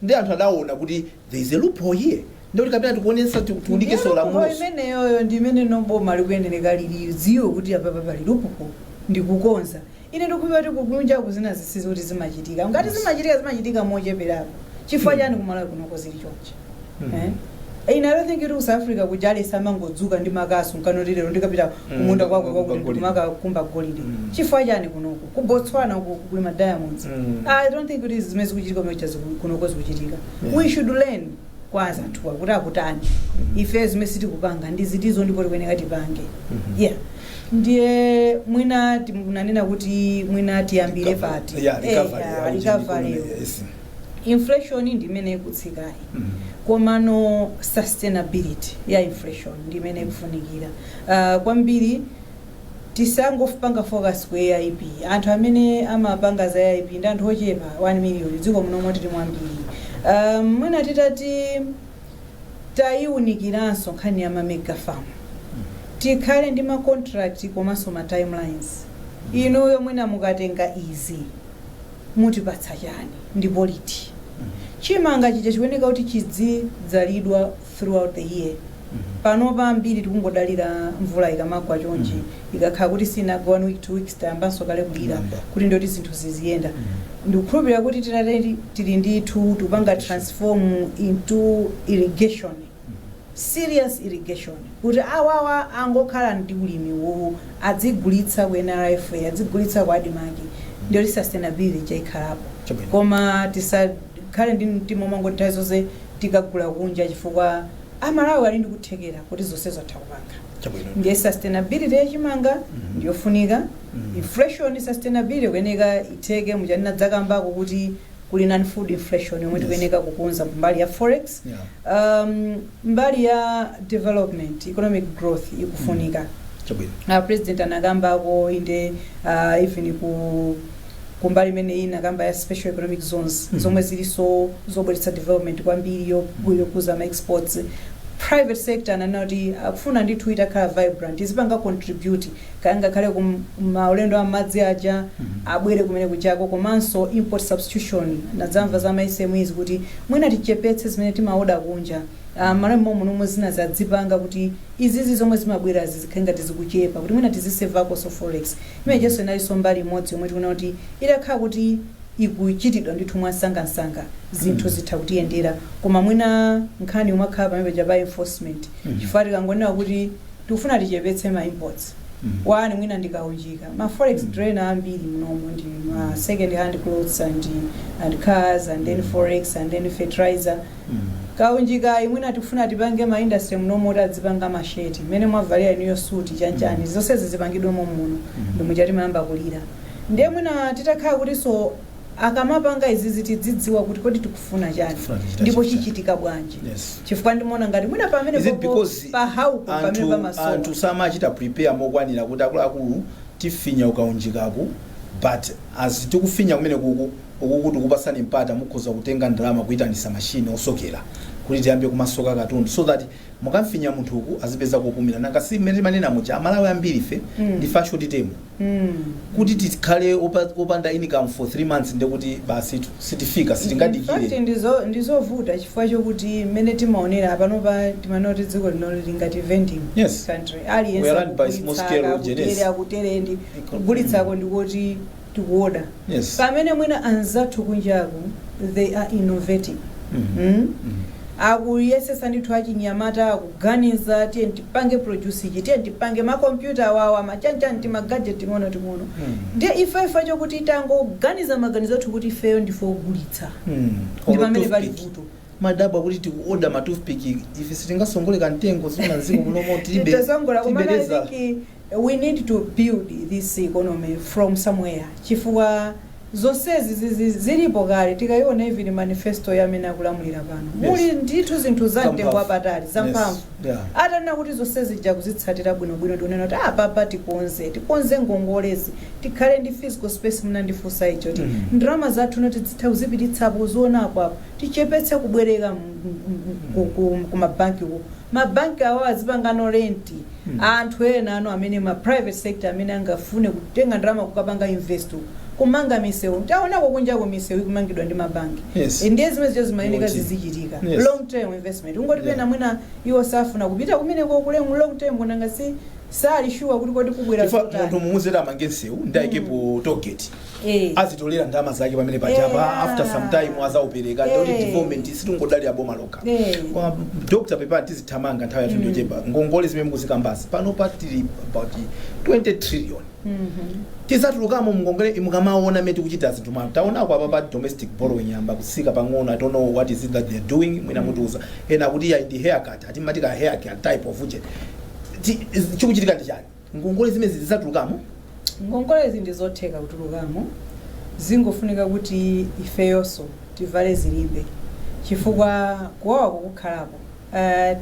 nde anthu adaona kuti there is a loophole here nde kuti kapena tikuonetsa tiku- Ndiye tiunikeso loophole lamuloso imeneyoyo ndi imene boma likuyenereka lilidziwe kuti apapa pali loophole ndikukonza ine ndikukhulupirira kuti kukunjaku zina zinthuzi kuti zimachitika ngati zimachitika zimachitika mocheperapo chifukwa chani kumalawi kunoko zili chonchi mm. eh? ine i don't think kuti ku south africa kuja aliyense amangodzuka ndi makasu nkunena kuti lero ndikapita Mm, kumunda kwako kukakumba kwakuti golide. ndikakumba golide Mm. chifukwa chani kunoko ku botswana ku- kuli ma diamonds Mm. i don't think kuti zimene zikuchitika mecha kunoko zikuchitika Yeah. we should learn kwa anzathuwa kuti akutani ife zimene sitikupanga ndi zitizo ndipo tikuyenera tipange Mhm. yeah ndiye mwina timunanena kuti mwina tiyambire pati Yeah, Eh, recovery, yeah, aucheni recovery. kuno, yes. inflation ndi imene ikutsikayi komano sustainability ya inflation ndi imene ikufunikira uh, kwambiri tisangopanga focus ku aip anthu amene amapanga za aip ndi anthu ochepa 1 million dziko muno momwe tili ambiri um, mwina titati tayiwunikiranso nkhani ya mamega farm tikhale ndi ma contract komanso ma timelines inuyo mwina mukatenga izi mutipatsa chani ndipo liti? Chimanga chija chikuyeneka kuti chidzidzalidwa throughout the year panopa ambiri tikungodalira mvula ikamagwa chonchi ikakhala kuti sinagwe one week two weeks tayambanso kale kulira kuti ndiyoti zinthu ziziyenda ndikukhulupirira kuti titati tili ndithu tikupanga transform into irrigation serious irrigation kuti awawa angokhala ndi ulimi uwuwu adzigulitsa ku NRFA adzigulitsa ku Admarc ndiyoti sustainability ija ikhalapo Chabwino. koma tisakhale ndi mtima omangoti nthawi zonse tikagula kunja chifukwa amalawi ali ndi kuthekera kuti zonsezo atha kupanga Chabwino. ndiye sustainability ya chimanga ndiyofunika inflation sustainability ikuyeneka itheke muja nanena dzakambako kuti kuli non food inflation yomwe Yes. tikuyeneka kukonza mbali ya forex Yeah. um, mbali ya development economic growth ikufunika Chabwino. uh, president anakambako inde uh, even kumbali imene inakamba ya special economic zones Mhm. zomwe zilinso zobweretsa development kwambiri yo- yokuza ma exports private sector ananena kuti akufuna ndithu itakhala vibrant izipanga contribute kaya ngakhale ku maulendo a m'madzi aja abwere kumene kujako komanso import substitution ndazamva za ma SMEs kuti mwina tichepetse zimene timaoda kunja Ah, Amalawi mommuno zina azidzipanga kuti izizi zomwe zimabwera zizikhala ngati zikuchepa kuti mwina tizisevakonso forex imenejenso inalinso mbali imodzi yomwe tikuona kuti itakhala kuti ikuchitidwa ndithu mwansangansanga zinthu zitha kutiyendera koma mwina nkhani imakhala pamene paja pa enforcement chifukwa tikangonena kuti Tikufuna tichepetse ma imports, one mwina ndi kaunjika. Ma forex drainer ambiri munomo ndi ma second hand clothes and and cars and then forex and then fertilizer. Kaunjikayi mwina tikufuna tipange ma industry munomo oti adzipanga ma shirt. Mmene mwavalira inuyo suit chanchani. Zonsezi zipangidwe mommuno. Ndi muja timayamba kulira. Ndiye mwina titakhala kutinso akamapanga izizi tidzidziwa kuti kodi tikufuna chani Tikufuna tichita ndipo chani. chichitika bwanji Yes. chifukwa ndimaona ngati mwina pamene Is it because pa how-po pamene pamasowa anthu samachita prepare mokwanira kuti akuluakulu tifinya kukaunjikaku but as tikufinya kumene uku tikupatsani mpata mukhoza kutenga ndalama kuyitanitsa mashini osokera kuti tiyambe kumasoka katundu so that mukamfinya munthu uku azipeza kupumira nanga si mmene timanena muja amalawi ambiri ife ndife a short term kuti tikhale opa- opanda income for 3 months ndekuti basi tu- sitifika Fact sitingadikire ndizo- ndizovuta chifukwa chokuti mmene timaonera panopa timanena kuti dziko lino lili ngati vending Yes. country We are run by small scale agents. aliyense akuterendi kugulitsako ndikuti tikuoda Yes. pamene mwina anzathu kunjaku they are innovating Mhm. mm? Mhm. akuyesesa ndithu achinyamata akuganiza tiye tipange produce ichi tiye tipange makompyuta awawa machanchani timagajeti ting'ono ting'ono Mhm. ndiye ife ife chokuti tangoganiza maganizo athu kuti ifeyo ndife ogulitsa Mhm. ndi Olo pamene pali toothpick. vuto timadabwa kuti tikuoda matoothpick ife sitingasongole kamtengo ena mdziko muno moti tibe- titazongola kumana tibeleza. tiki We need to build this economy from somewhere chifukwa zonsezi zizi zilipo kale tikaona even manifesto ya amene akulamulira pano Yes. muli ndithu zinthu za mtengo Zamphamvu. wapatali zamphamvu Yes. Yeah. atanena kuti zonse zija kuzitsatira bwinobwino tikunena kuti apapa tikonze tikonze ngongolezi tikhale ndi fiscal space munandifunsa icho kuti Mm. ndalama zathu kuti tidzitha kuzipititsapo kuzionapo apo tichepetse kubwereka m- m- m- ku- ku- ku mabanki ku ma bank awo azipangano lend anthu enanu amene ma private sector amene angafune kutenga ndalama kukapanga invest uko kumanga misewu taonako kunjako misewu ikumangidwa ndi mabanki Yes. ndiye zimene zija zimayeneka Yoti. zizichitika Yes. long term investment ungoti Yeah. pena mwina iwo safuna kupita kumeneko ku long term kunanga si sali sure kuti kodi kubwera chifukwa zotani. munthu mumuuza amange nsewu ndi aikepo tollgate Eh. azitolera ndalama zake pamene paja apa Eh, ah. after some time azaupereka ndikuti Eh. development sitingangodalira boma lokha Eh. kwa dr pepani tizithamanga nthawi yathu ndiyochepa ngongole zimene mukuzikambazi pano patili about 20 trillion tizatulukamo mungongole mukamaona mmene zikuchitira zinthu mwina taonako apa pa domestic borrowing yayamba kutsika pang'ono i don't know what is it that they're doing mwina mutiuza ena kuti ya ndi haircut ati amati ka haircut type of uje Ti- chikuchitika ndi chani Ngongole zimenezi tidzatulukamo? Ngongolezi ndi zotheka kutulukamo, zingofunika kuti ifeyonso tivale zilimbe chifukwa kuwawa kukhalapo.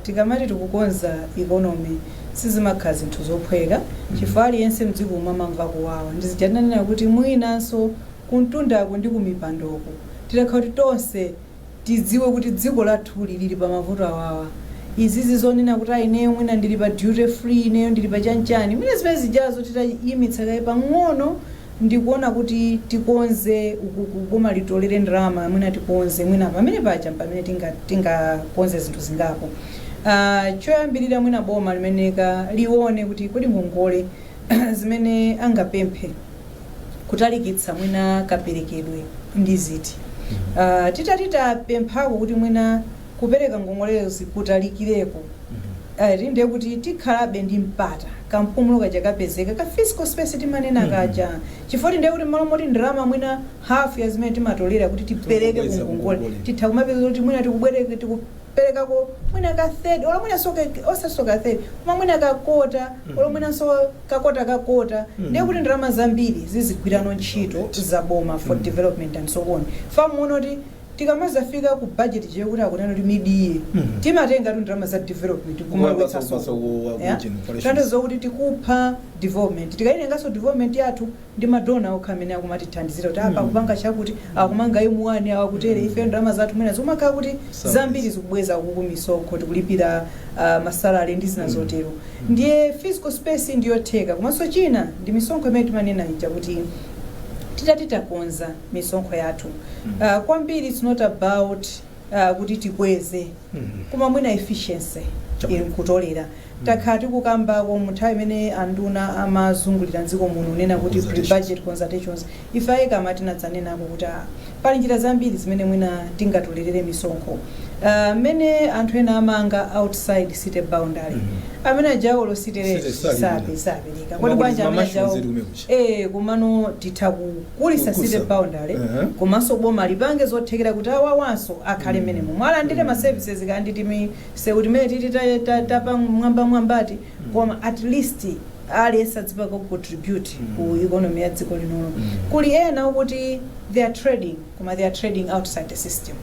Tikamati tikukonza economy sizimakhala zinthu zophweka chifukwa aliyense m'dzikomu amamva kuwawa. Ndi zija tinanena kuti mwinanso kumtundaku ndi kumipandoku titakhala kuti tonse Tidziwe kuti dziko lathuli lili pa mavuto awawa. Izizi zonena kuti a ineyo mwina ndili pa duty free, ineyo ndili pa chanichani, mwina zimene zijazo titayimitsa kaye pang'ono ndikuona kuti tikonze ukuku boma litolere ndalama mwina tikonze mwina pamene paja mpamene tinga tingakonze zinthu zingapo. Uh, choyambirira mwina boma limayeneka lione kuti kodi ngongole zimene angapemphe kutalikitsa mwina kaperekedwe ndi ziti uh, titati tapemphako kuti mwina kupereka ngongolezi kutalikireko uh, ndiye kuti tikhalabe ndi mpata kampumulo kaja kapezeka ka fiscal space timanena kaja chifukwa ndiye kuti mmalo moti ndalama mwina hafu ya zimene timatolera kuti tipereke Tikubweza kungongole kungongole. titha kumapeza kuti mwina tikubwereka tikuperekako mwina ka third olo mwinanso ka osaso ka third koma mwina ka kota olo mwinanso ka kota ka kota ndiye kuti ndalama zambiri zizigwirano ntchito za boma for development and so on fa muona kuti tikamazafika ku budget ija kuti akunena kuti mid-year timatengatu ndalama za development Kumapasa- kumapasa ku- ku- ku- generation. tanthauza kuti tikupha development tikaitenganso development yathu ndi ma donor okha amene akumatithandizira kuti apa akupanga chakuti akumanga M1 awa akutere ife ndalama zathu mwina zikumakhala kuti zambiri zikubweza ukuku misonkho tikulipira ah, ma salary ndi zina zotero ndiye fiscal space ndiyotheka komanso china ndi misonkho imene timanena ija kuti titati takonza misonkho yathu uh, kwambiri it's not about ah, kuti tikweze koma mwina efficiency Chabwino. in kutolera takhala tikukambako mu nthawi imene anduna amazungulira mdziko muno unena kuti Consultation. pre-budget consultations ife a ECAMA tinadzanenako kuti ah, pali njira zambiri zimene mwina tingatolerere misonkho Ah, mmene anthu ena amanga outside city boundary Mhm. amene ajawo olo city rate City sabe. sape sapereka kodi bwanji amene ajawo Mamushrooms iri umeko. Eee komano titha kukulitsa Kukuza. city boundary Ehe. komanso boma lipange zothekera kuti awawanso akhale mmenemomo alandire ma services kaya ndi timisewu timene titi ta- ta- tapamwambamwambati koma at least aliyense adzipanga ku contribute ku economy ya dziko linono kuli ena okuti they are trading koma they are trading outside the system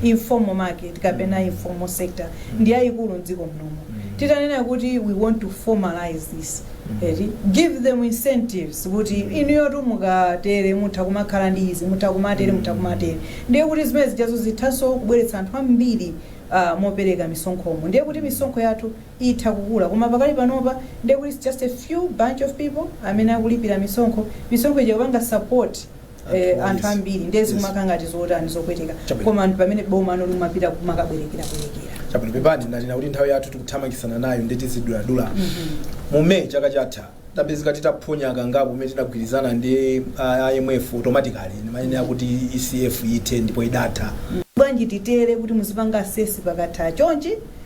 informal market kapena informal sector ndi yayikulu mdziko mnomo titanena kuti we want to formalize this eti give them incentives kuti inuyo mukatere mutha kumakhala ndi izi mutha kumatere mutha kumatere ndiye kuti zimene zijazo zithanso kubweretsa anthu ambiri uh, mopereka misonkhomo ndiye kuti misonkho yathu itha kukula koma pakali panopa ndiye kuti it's just a few bunch of people amene akulipira misonkho misonkho ija kupanga support eh, anthu ambiri ndiye zikumakhala ngati zotani zopweteka Chabwino. koma ndi pamene bomano limapita kumakabwerekerabwerekera chabwino pepani ndanena kuti nthawi yathu tikuthamangitsana nayo ndiye tiziduladula mu may chaka chatha tidapezeka titaphonya kangapo kumene tinagwirizana ndi ah, imf automatically imayenera kuti ecf ithe ndipo idatha bwanji titere kuti muzipanga assess pakatha chonchi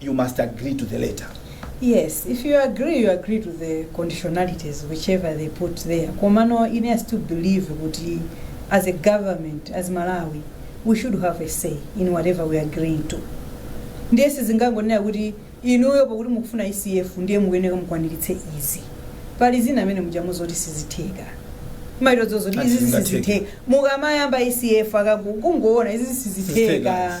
you must agree to the letter. Yes, if you agree, you agree to the conditionalities, whichever they put there. Komano, it has to believe kuti as a government, as Malawi, we should have a say in whatever we are agreeing to. Ndiye sizingangonenedwa kuti inuyo pakuti mukufuna ECF ndiye mukuyenera mukwaniritse izi. Pali zina amene mujamu zoti sizitheka. Mairo zozo kuti izi Azingatheka. sizitheka. Mukamayamba ECF akakungoona izi Sizitheka. sizitheka.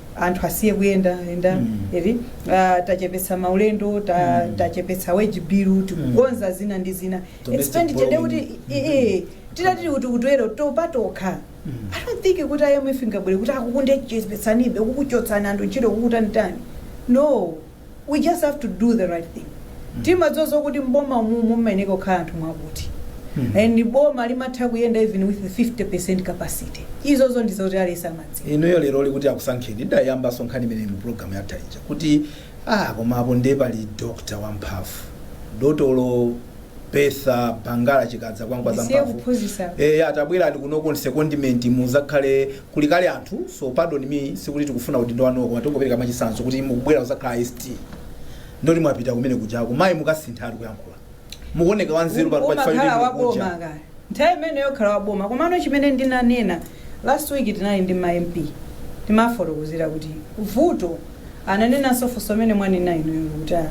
anthu asiye kuyenda yenda Mm. eti ah, tachepetsa maulendo ta, Mm. tachepetsa wage bill tikukonza zina ndi zina Domestic expenditure nde kuti borrowing. eh, eh, titati kuti kutero patokha Mm. i don't think kuti imf ingabwere kuti akukundechepetsanibe kuchotsani anthu ntchito kukutanitani no We just have to do the right thing. Timadziwa zokuti mboma umu mumayenera kukhala anthu mwakuti. And boma limatha kuyenda even with 50% capacity. Izo zo ndizo kuti aliyense amadziwa. inuyo lero ili kuti akusankheni ndayambanso nkhani imene mu programu yatha ija kuti ah koma apo ndiye pali dokta wamphamvu dotolo betha bangala chikadza kwangwa Ndisiye zamphamvu kuphunzitsa. eya tabwerani kuno ku secondment muzakhale muli kale anthu so pardon me sikuti tikufuna udindo wanuwo koma tingopereka mwachitsanzo kuti mukubwera kuzakhala ST nde uti mwapita kumene kujako mayi mukasintha mayankhulidwe mukuoneka wanzeru pano pachifukwa umakhala choti waboma mukuja. kaya nthawi imene yokhala waboma komano chimene ndinanena last week tinali ndi ma mp timafotokozera kuti vuto ananenanso funso limene mwanena inuyo kuti ah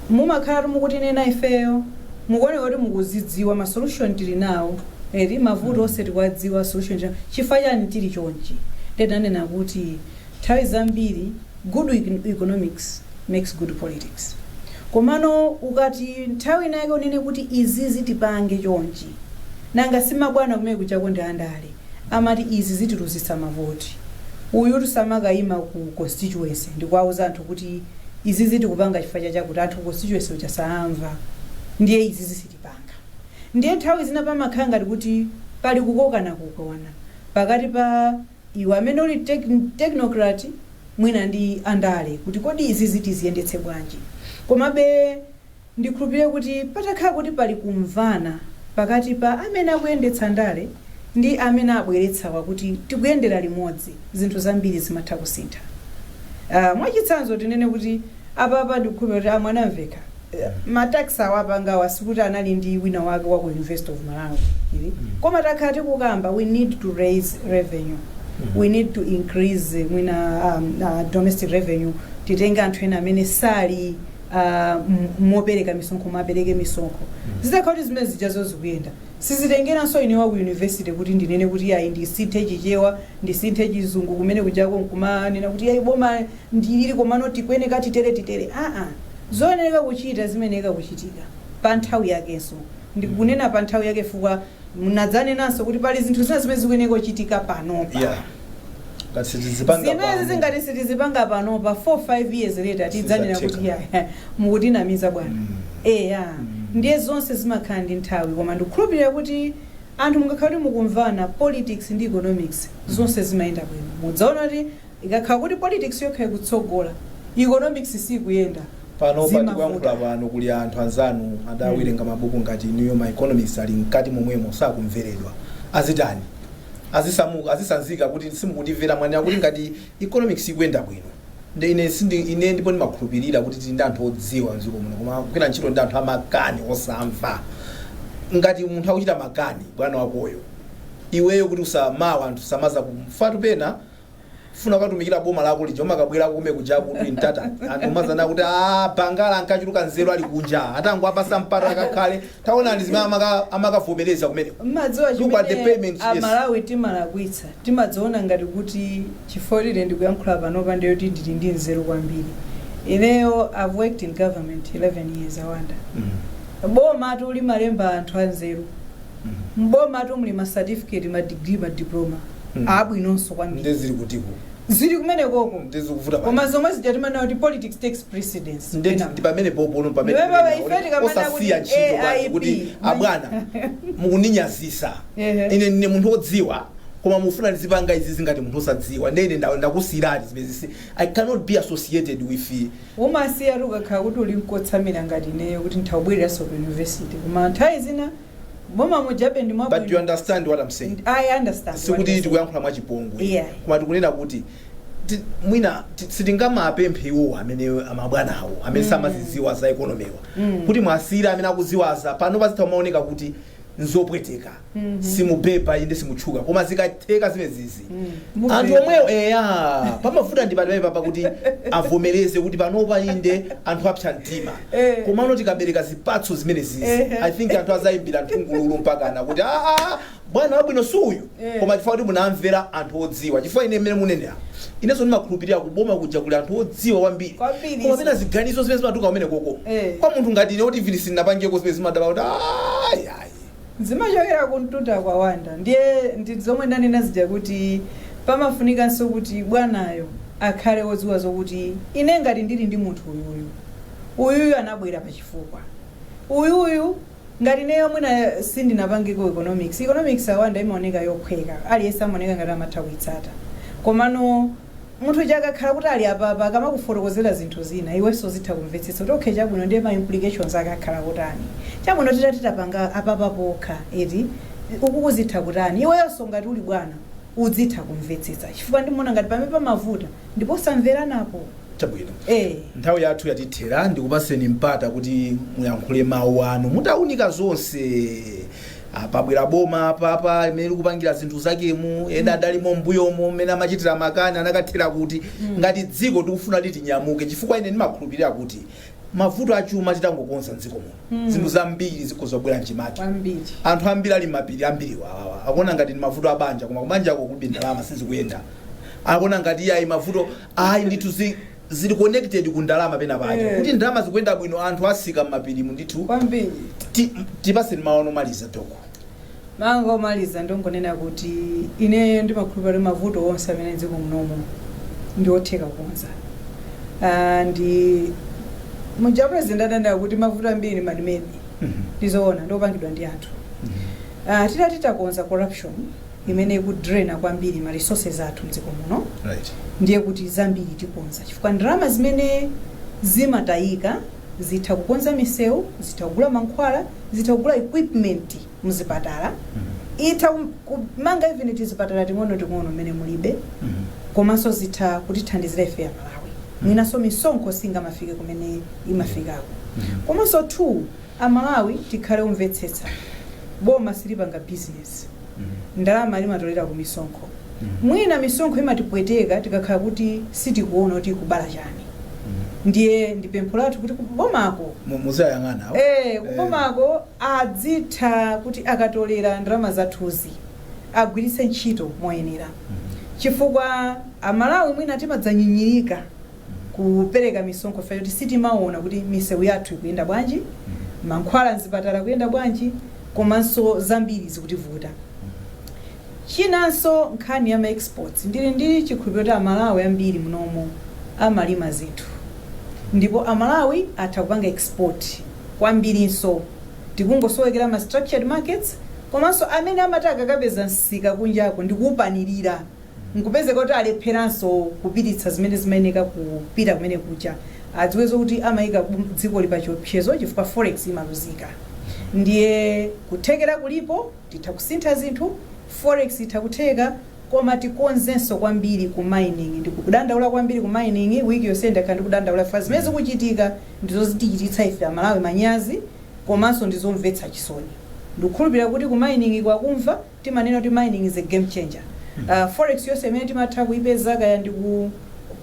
mumakhalatu mukutinena ifeyo mukuoneka kuti mukuzidziwa ma solution tili nawo eti mavuto onse tikuwadziwa solution tili nawo chifukwa chani tili chonchi ndiye ndinanena kuti nthawi zambiri good econ- economics makes good politics komano ukati nthawi inayake unene kuti izizi tipange chonchi nanga simabwana kumene kujako ndi andale amati izi zitiluzitsa mavoti. Uyutu samakaima ku constituency ndikuwauza anthu kuti izizi tikupanga chifukwa cha chakuti anthu ku constituency uja saamva ndiye izizi sitipanga. Ndiye nthawi zina pamakhala ngati kuti pali kukokanakokana pakati pa iwe amene uli technocrat mwina ndi andale kuti kodi izizi tiziyendetse bwanji. Komabe. Ndikhulupirira kuti patakhala kuti pali kumvana pakati pa amene akuyendetsa ndale ndi amene abweretsawa kuti tikuyendera limodzi, zinthu zambiri zimatha kusintha. Aaa mwachitsanzo tinene kuti apapa ndikukhulupirira kuti a Mwanamvekha ma tax awa apangawa sikuti anali ndi wina wake wa ku University of Malawi iyayi koma takhala tikukamba we need to raise revenue, we need to increase mwina aah domestic revenue titenge anthu ena amene sali ah, m- mopereka misonkho mwapereke misonkho zitakhala kuti zimene zijazo zikuyenda sizitengeranso ine wa ku yunivesity kuti ndinene kuti yayi ndisinthe chichewa ndisinthe chizungu kumene kujako nkumanena kuti yayi boma ndilili komano tikuyeneka titeretitere aa zoyenereka kuchita zimayeneka kuchitika pa nthawi yakenso ndikunena pa nthawi yake fukwa Mudzanenanso kuti pali zinthu zina zimene zikuyeneka kuchitika panopa. Yeah. Ngati sitizipanga Zimene pano. zizi ngati sitizipanga panopa 4 5 years later tidzanena kuti Sizatheka. ya mukutinamiza bwana. Mm. Eya. Ndiye zonse zimakhala ndi nthawi koma ndikukhulupirira kuti anthu mungakhala kuti mukumvana politics ndi economics zonse zimayenda bwino. Mudzaona kuti Ikakhala kuti politics yokha ikutsogola, economics siikuyenda, Panopa zimavuta. tikuyankhula pano kuli anthu anzanu adawerenga mabuku ngati inuyo, ma economists ali mkati momwemo sakumveredwa. Azitani? Azisamuka? Azisanzika kuti simukutimvera? Mwanena kuti ngati economics ikuyenda bwino nde ine sindi, ine ndipo ndimakhulupirira kuti tili ndi anthu odziwa mdziko muno koma akugwira ntchito ndi anthu amakani osamva. Ngati munthu akuchita makani bwana wakoyo, iweyo kuti usa, mwina anthu samazakumvatu pena, ufuna ukatumikire boma lako lija umakabwera komwe kuja kuti ntanta anthu amazanena kuti a bangala ankachuluka nzeru ali kunja atangowapatsa mpata akakhale taonani zimene amaka- amakavomereza kumene mmadziwa Look at the chimene payments, yes. amalawi timalakwitsa timadziona ngati kuti chifukwa ndili ndikuyankhula panopa ndiye kuti ndili ndi nzeru kwambiri ineyo i've worked in government 11 years awanda bomatu limalemba anthu anzeru m'bomatu muli ma certificate ma degree ma diploma Mm. abwinonso kwambiri nde zili kutiko zili kumenekoko nde zikuvuta pa- koma zomwe zija timanena kuti politics takes precedence nde Kenako. ndi pamene popo pamene Iwe baba, ife tikamana osasiya kuti ntchito basi AIP. kuti abwana mukundinyazitsa Ehe. ine ndine munthu odziwa koma mufuna ndizipanga izizi ngati munthu osadziwa nde ine nda- ndakusiyirani zimenezizi i cannot be associated with Umasiyatu ukakhala kuti uli nkotsamira ngati ineyo kuti ntha kubwereranso ku university koma nthawi zina m'boma mujabe ndi mwabwino. But you understand what am saying? I understand. Sikuti tikuyankhula mwachipongwe. Iyayi. Koma tikunena kuti ti, mwina ti, sitingamapemphe iwowa amene amabwanawo amene mm. samazidziwa za economy-wa mm. kuti muwasiyire amene akuziwa za panopa zitha kumaoneka kuti nzopweteka simubeba inde simutchuka koma zikatheka zimezizi Mubeba. anthu omwewo eya pamafuta ndi pamene papa kuti avomereze kuti panopa inde anthu apsa mtima Eh. komano tikabereka zipatso zimenezizi Ehe. i think anthu azayimbira nthungululu mpakana kuti aa bwana wabwino si uyu koma chifukwa kuti munamvera anthu odziwa chifukwa ine mmene munenera inenso ndimakhulupirira kuboma kuja kuli anthu odziwa kwambiri Kwambiri. koma pena ziganizo zimene zimatuka kumenekoko Eh. kwa munthu ngati ine oti field sinnapangeko zimenezi ndimadabwa kuti ayi ayi zimachokera kumtundako a Wonder ndiye ndi zomwe ndanena zija kuti pamafunikanso kuti bwanayo akhale wodziwa zokuti ine ngati ndili ndi munthu uyuyu uyuyu anabwera pachifukwa uyuyu Ngati ineyo mwina sindinapangeko economics, economics a Wonder imaoneka yophweka, aliyense amaoneka ngati amatha kuitsata. Komano munthu uja akakhala kuti ali apapa akamakufotokozera zinthu zina iwenso uzitha kumvetsetsa kuti okay chabwino ndiye ma implications ake akhala otani. Chabwino titati tapanga apapa pokha eti, ukuku zitha kutani. Iweyonso ngati uli bwana udzitha kumvetsetsa chifukwa ndimaona ngati pamene pamavuta ndi posamveranapo chabwino eh nthawi yathu yatithera ndikupaseni mpata kuti muyankhule mawu anu mutaunika zonse Ah, pabwera boma apapa mmene likupangira zinthu zakemu ena adalimo mbuyomo mmene amachitira makani anakathera kuti ngati dziko tikufuna kuti tinyamuke chifukwa ine ndimakhulupirira kuti mavuto achuma titangokonza mdziko muno zinthu zambiri zikhoza kubwera mchimake Kwambiri. anthu ambiri ali m'mapiri ambiri awawa akuona ngati ni mavuto a banja koma kubanjako kulibe ndalama sizikuyenda akuona ngati iyayi mavuto ayi ndithu zi- zili connected ku ndalama pena pake Eh. kuti ndalama zikuyenda bwino anthu atsika m'mapirimu ndithu Kwambiri. ti- tipaseni mawu omaliza doko Mawu anga omaliza ndongonena kuti ineyo ndimakhulupirira kuti mavuto onse amene mdziko munomu ndi otheka kukonza ndi muja president adanena kuti mavuto ambiri man-made ndizoona ndiopangidwa ndi anthu uh, titati takonza corruption imene ikudraina kwambiri ma resources athu mdziko muno Right. ndiye kuti zambiri tikonza chifukwa ndalama zimene zimatayika zitha kukonza misewu, zitha kugula mankhwala, zitha kugula equipment muzipatala, itha kum- kumanga even tizipatala ting'onoting'ono mmene mulibe komanso zitha kutithandizira ife amalawi mwinanso misonkho singamafike kumene imafikako komanso two amalawi tikhale omvetsetsa boma silipanga bizinesi ndalama limatolera ku misonkho mwina misonkho imatipweteka tikakhala kuti sitikuona kuti ikubala chani ndiye ndi pempho lathu kuti kubomako Mu- muzayang'ana awo. Eh, kubomako adzitha kuti akatolera ndalama zathuzi agwiritse ntchito moyenera chifukwa amalawi mwina timadzanyinyirika kupereka misonkho chifukwa choti sitimaona kuti misewu yathu ikuyenda bwanji, mankhwala mzipatala akuyenda bwanji, komanso zambiri zikutivuta. Chinanso nkhani ya ma exports, ndili ndi chikhulupiriro kuti Amalawi ambiri munomo amalima zinthu ndipo Amalawi atha kupanga export kwambirinso, tikungosowekera ma structured markets komanso amene amati akakapeza msika kunjako ndikuupanilira. nkupezeka kuti alepheranso kupititsa zimene zimayeneka kupita kumene kuja, adziwe zokuti amaika dzikoli pa chiopsezo chifukwa forex imaluzika. Ndiye kuthekera kulipo, titha kusintha zinthu, forex itha kutheka, koma tikonzenso kwambiri ku mining. Ndikudandaula kwambiri ku mining, week yonseyi ndakhala ndikudandaula chifukwa zimene zikuchitika ndizo zitichititsa ife Amalawi manyazi komanso ndizomvetsa chisoni. Ndikukhulupilira kuti ku mining-ku akumva. Timanena kuti mining is a game changer. Forex yonse imene timatha kuipeza kaya ndi ku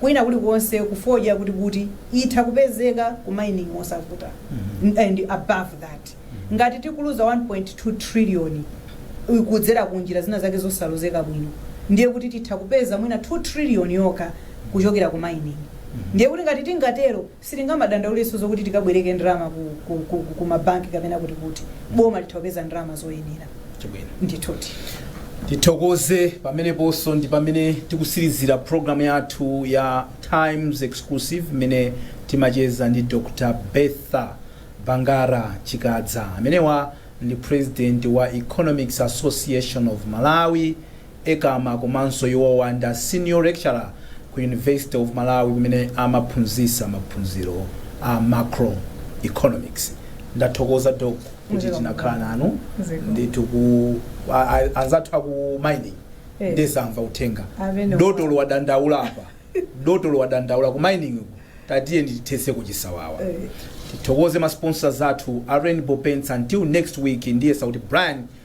kwina kulikonse ku fodya kuti kuti itha kupezeka ku mining mosavuta and above that ngati tikuluza 1.2 trillion kudzera ku njira zina zake zosalozeka bwino ndiye kuti titha kupeza mwina 2 trillion yokha kuchokera ku mining ndiye kuti ngati tingatero Sitingamadandaulenso zokuti tikabwereke ndalama ku ma banki kapena kuti kuti. Boma litha kupeza ndalama zoyenera. Chabwino. Ndithudi. Tithokoze pameneponso ndi pamene tikutsirizira program yathu ya Times Exclusive imene timacheza ndi Dr Bertha Bangara Chikadza. Amenewa ndi President wa Economics Association of Malawi, Ecama komanso iwowa nda Senior Lecturer ku University of Malawi kumene amaphunzitsa maphunziro a Macro Economics. Ndathokoza Doc kuti tinakhala nanu ndithu anzathu a ku mining nde amva uthenga. Dotolo wadandaula apa. Dotolo wadandaula ku mining-ku tatiyeni tithetseko chisawawa. Tithokoze ma sponsors athu a Rainbow Paints until next week ndiyesa kuti Brian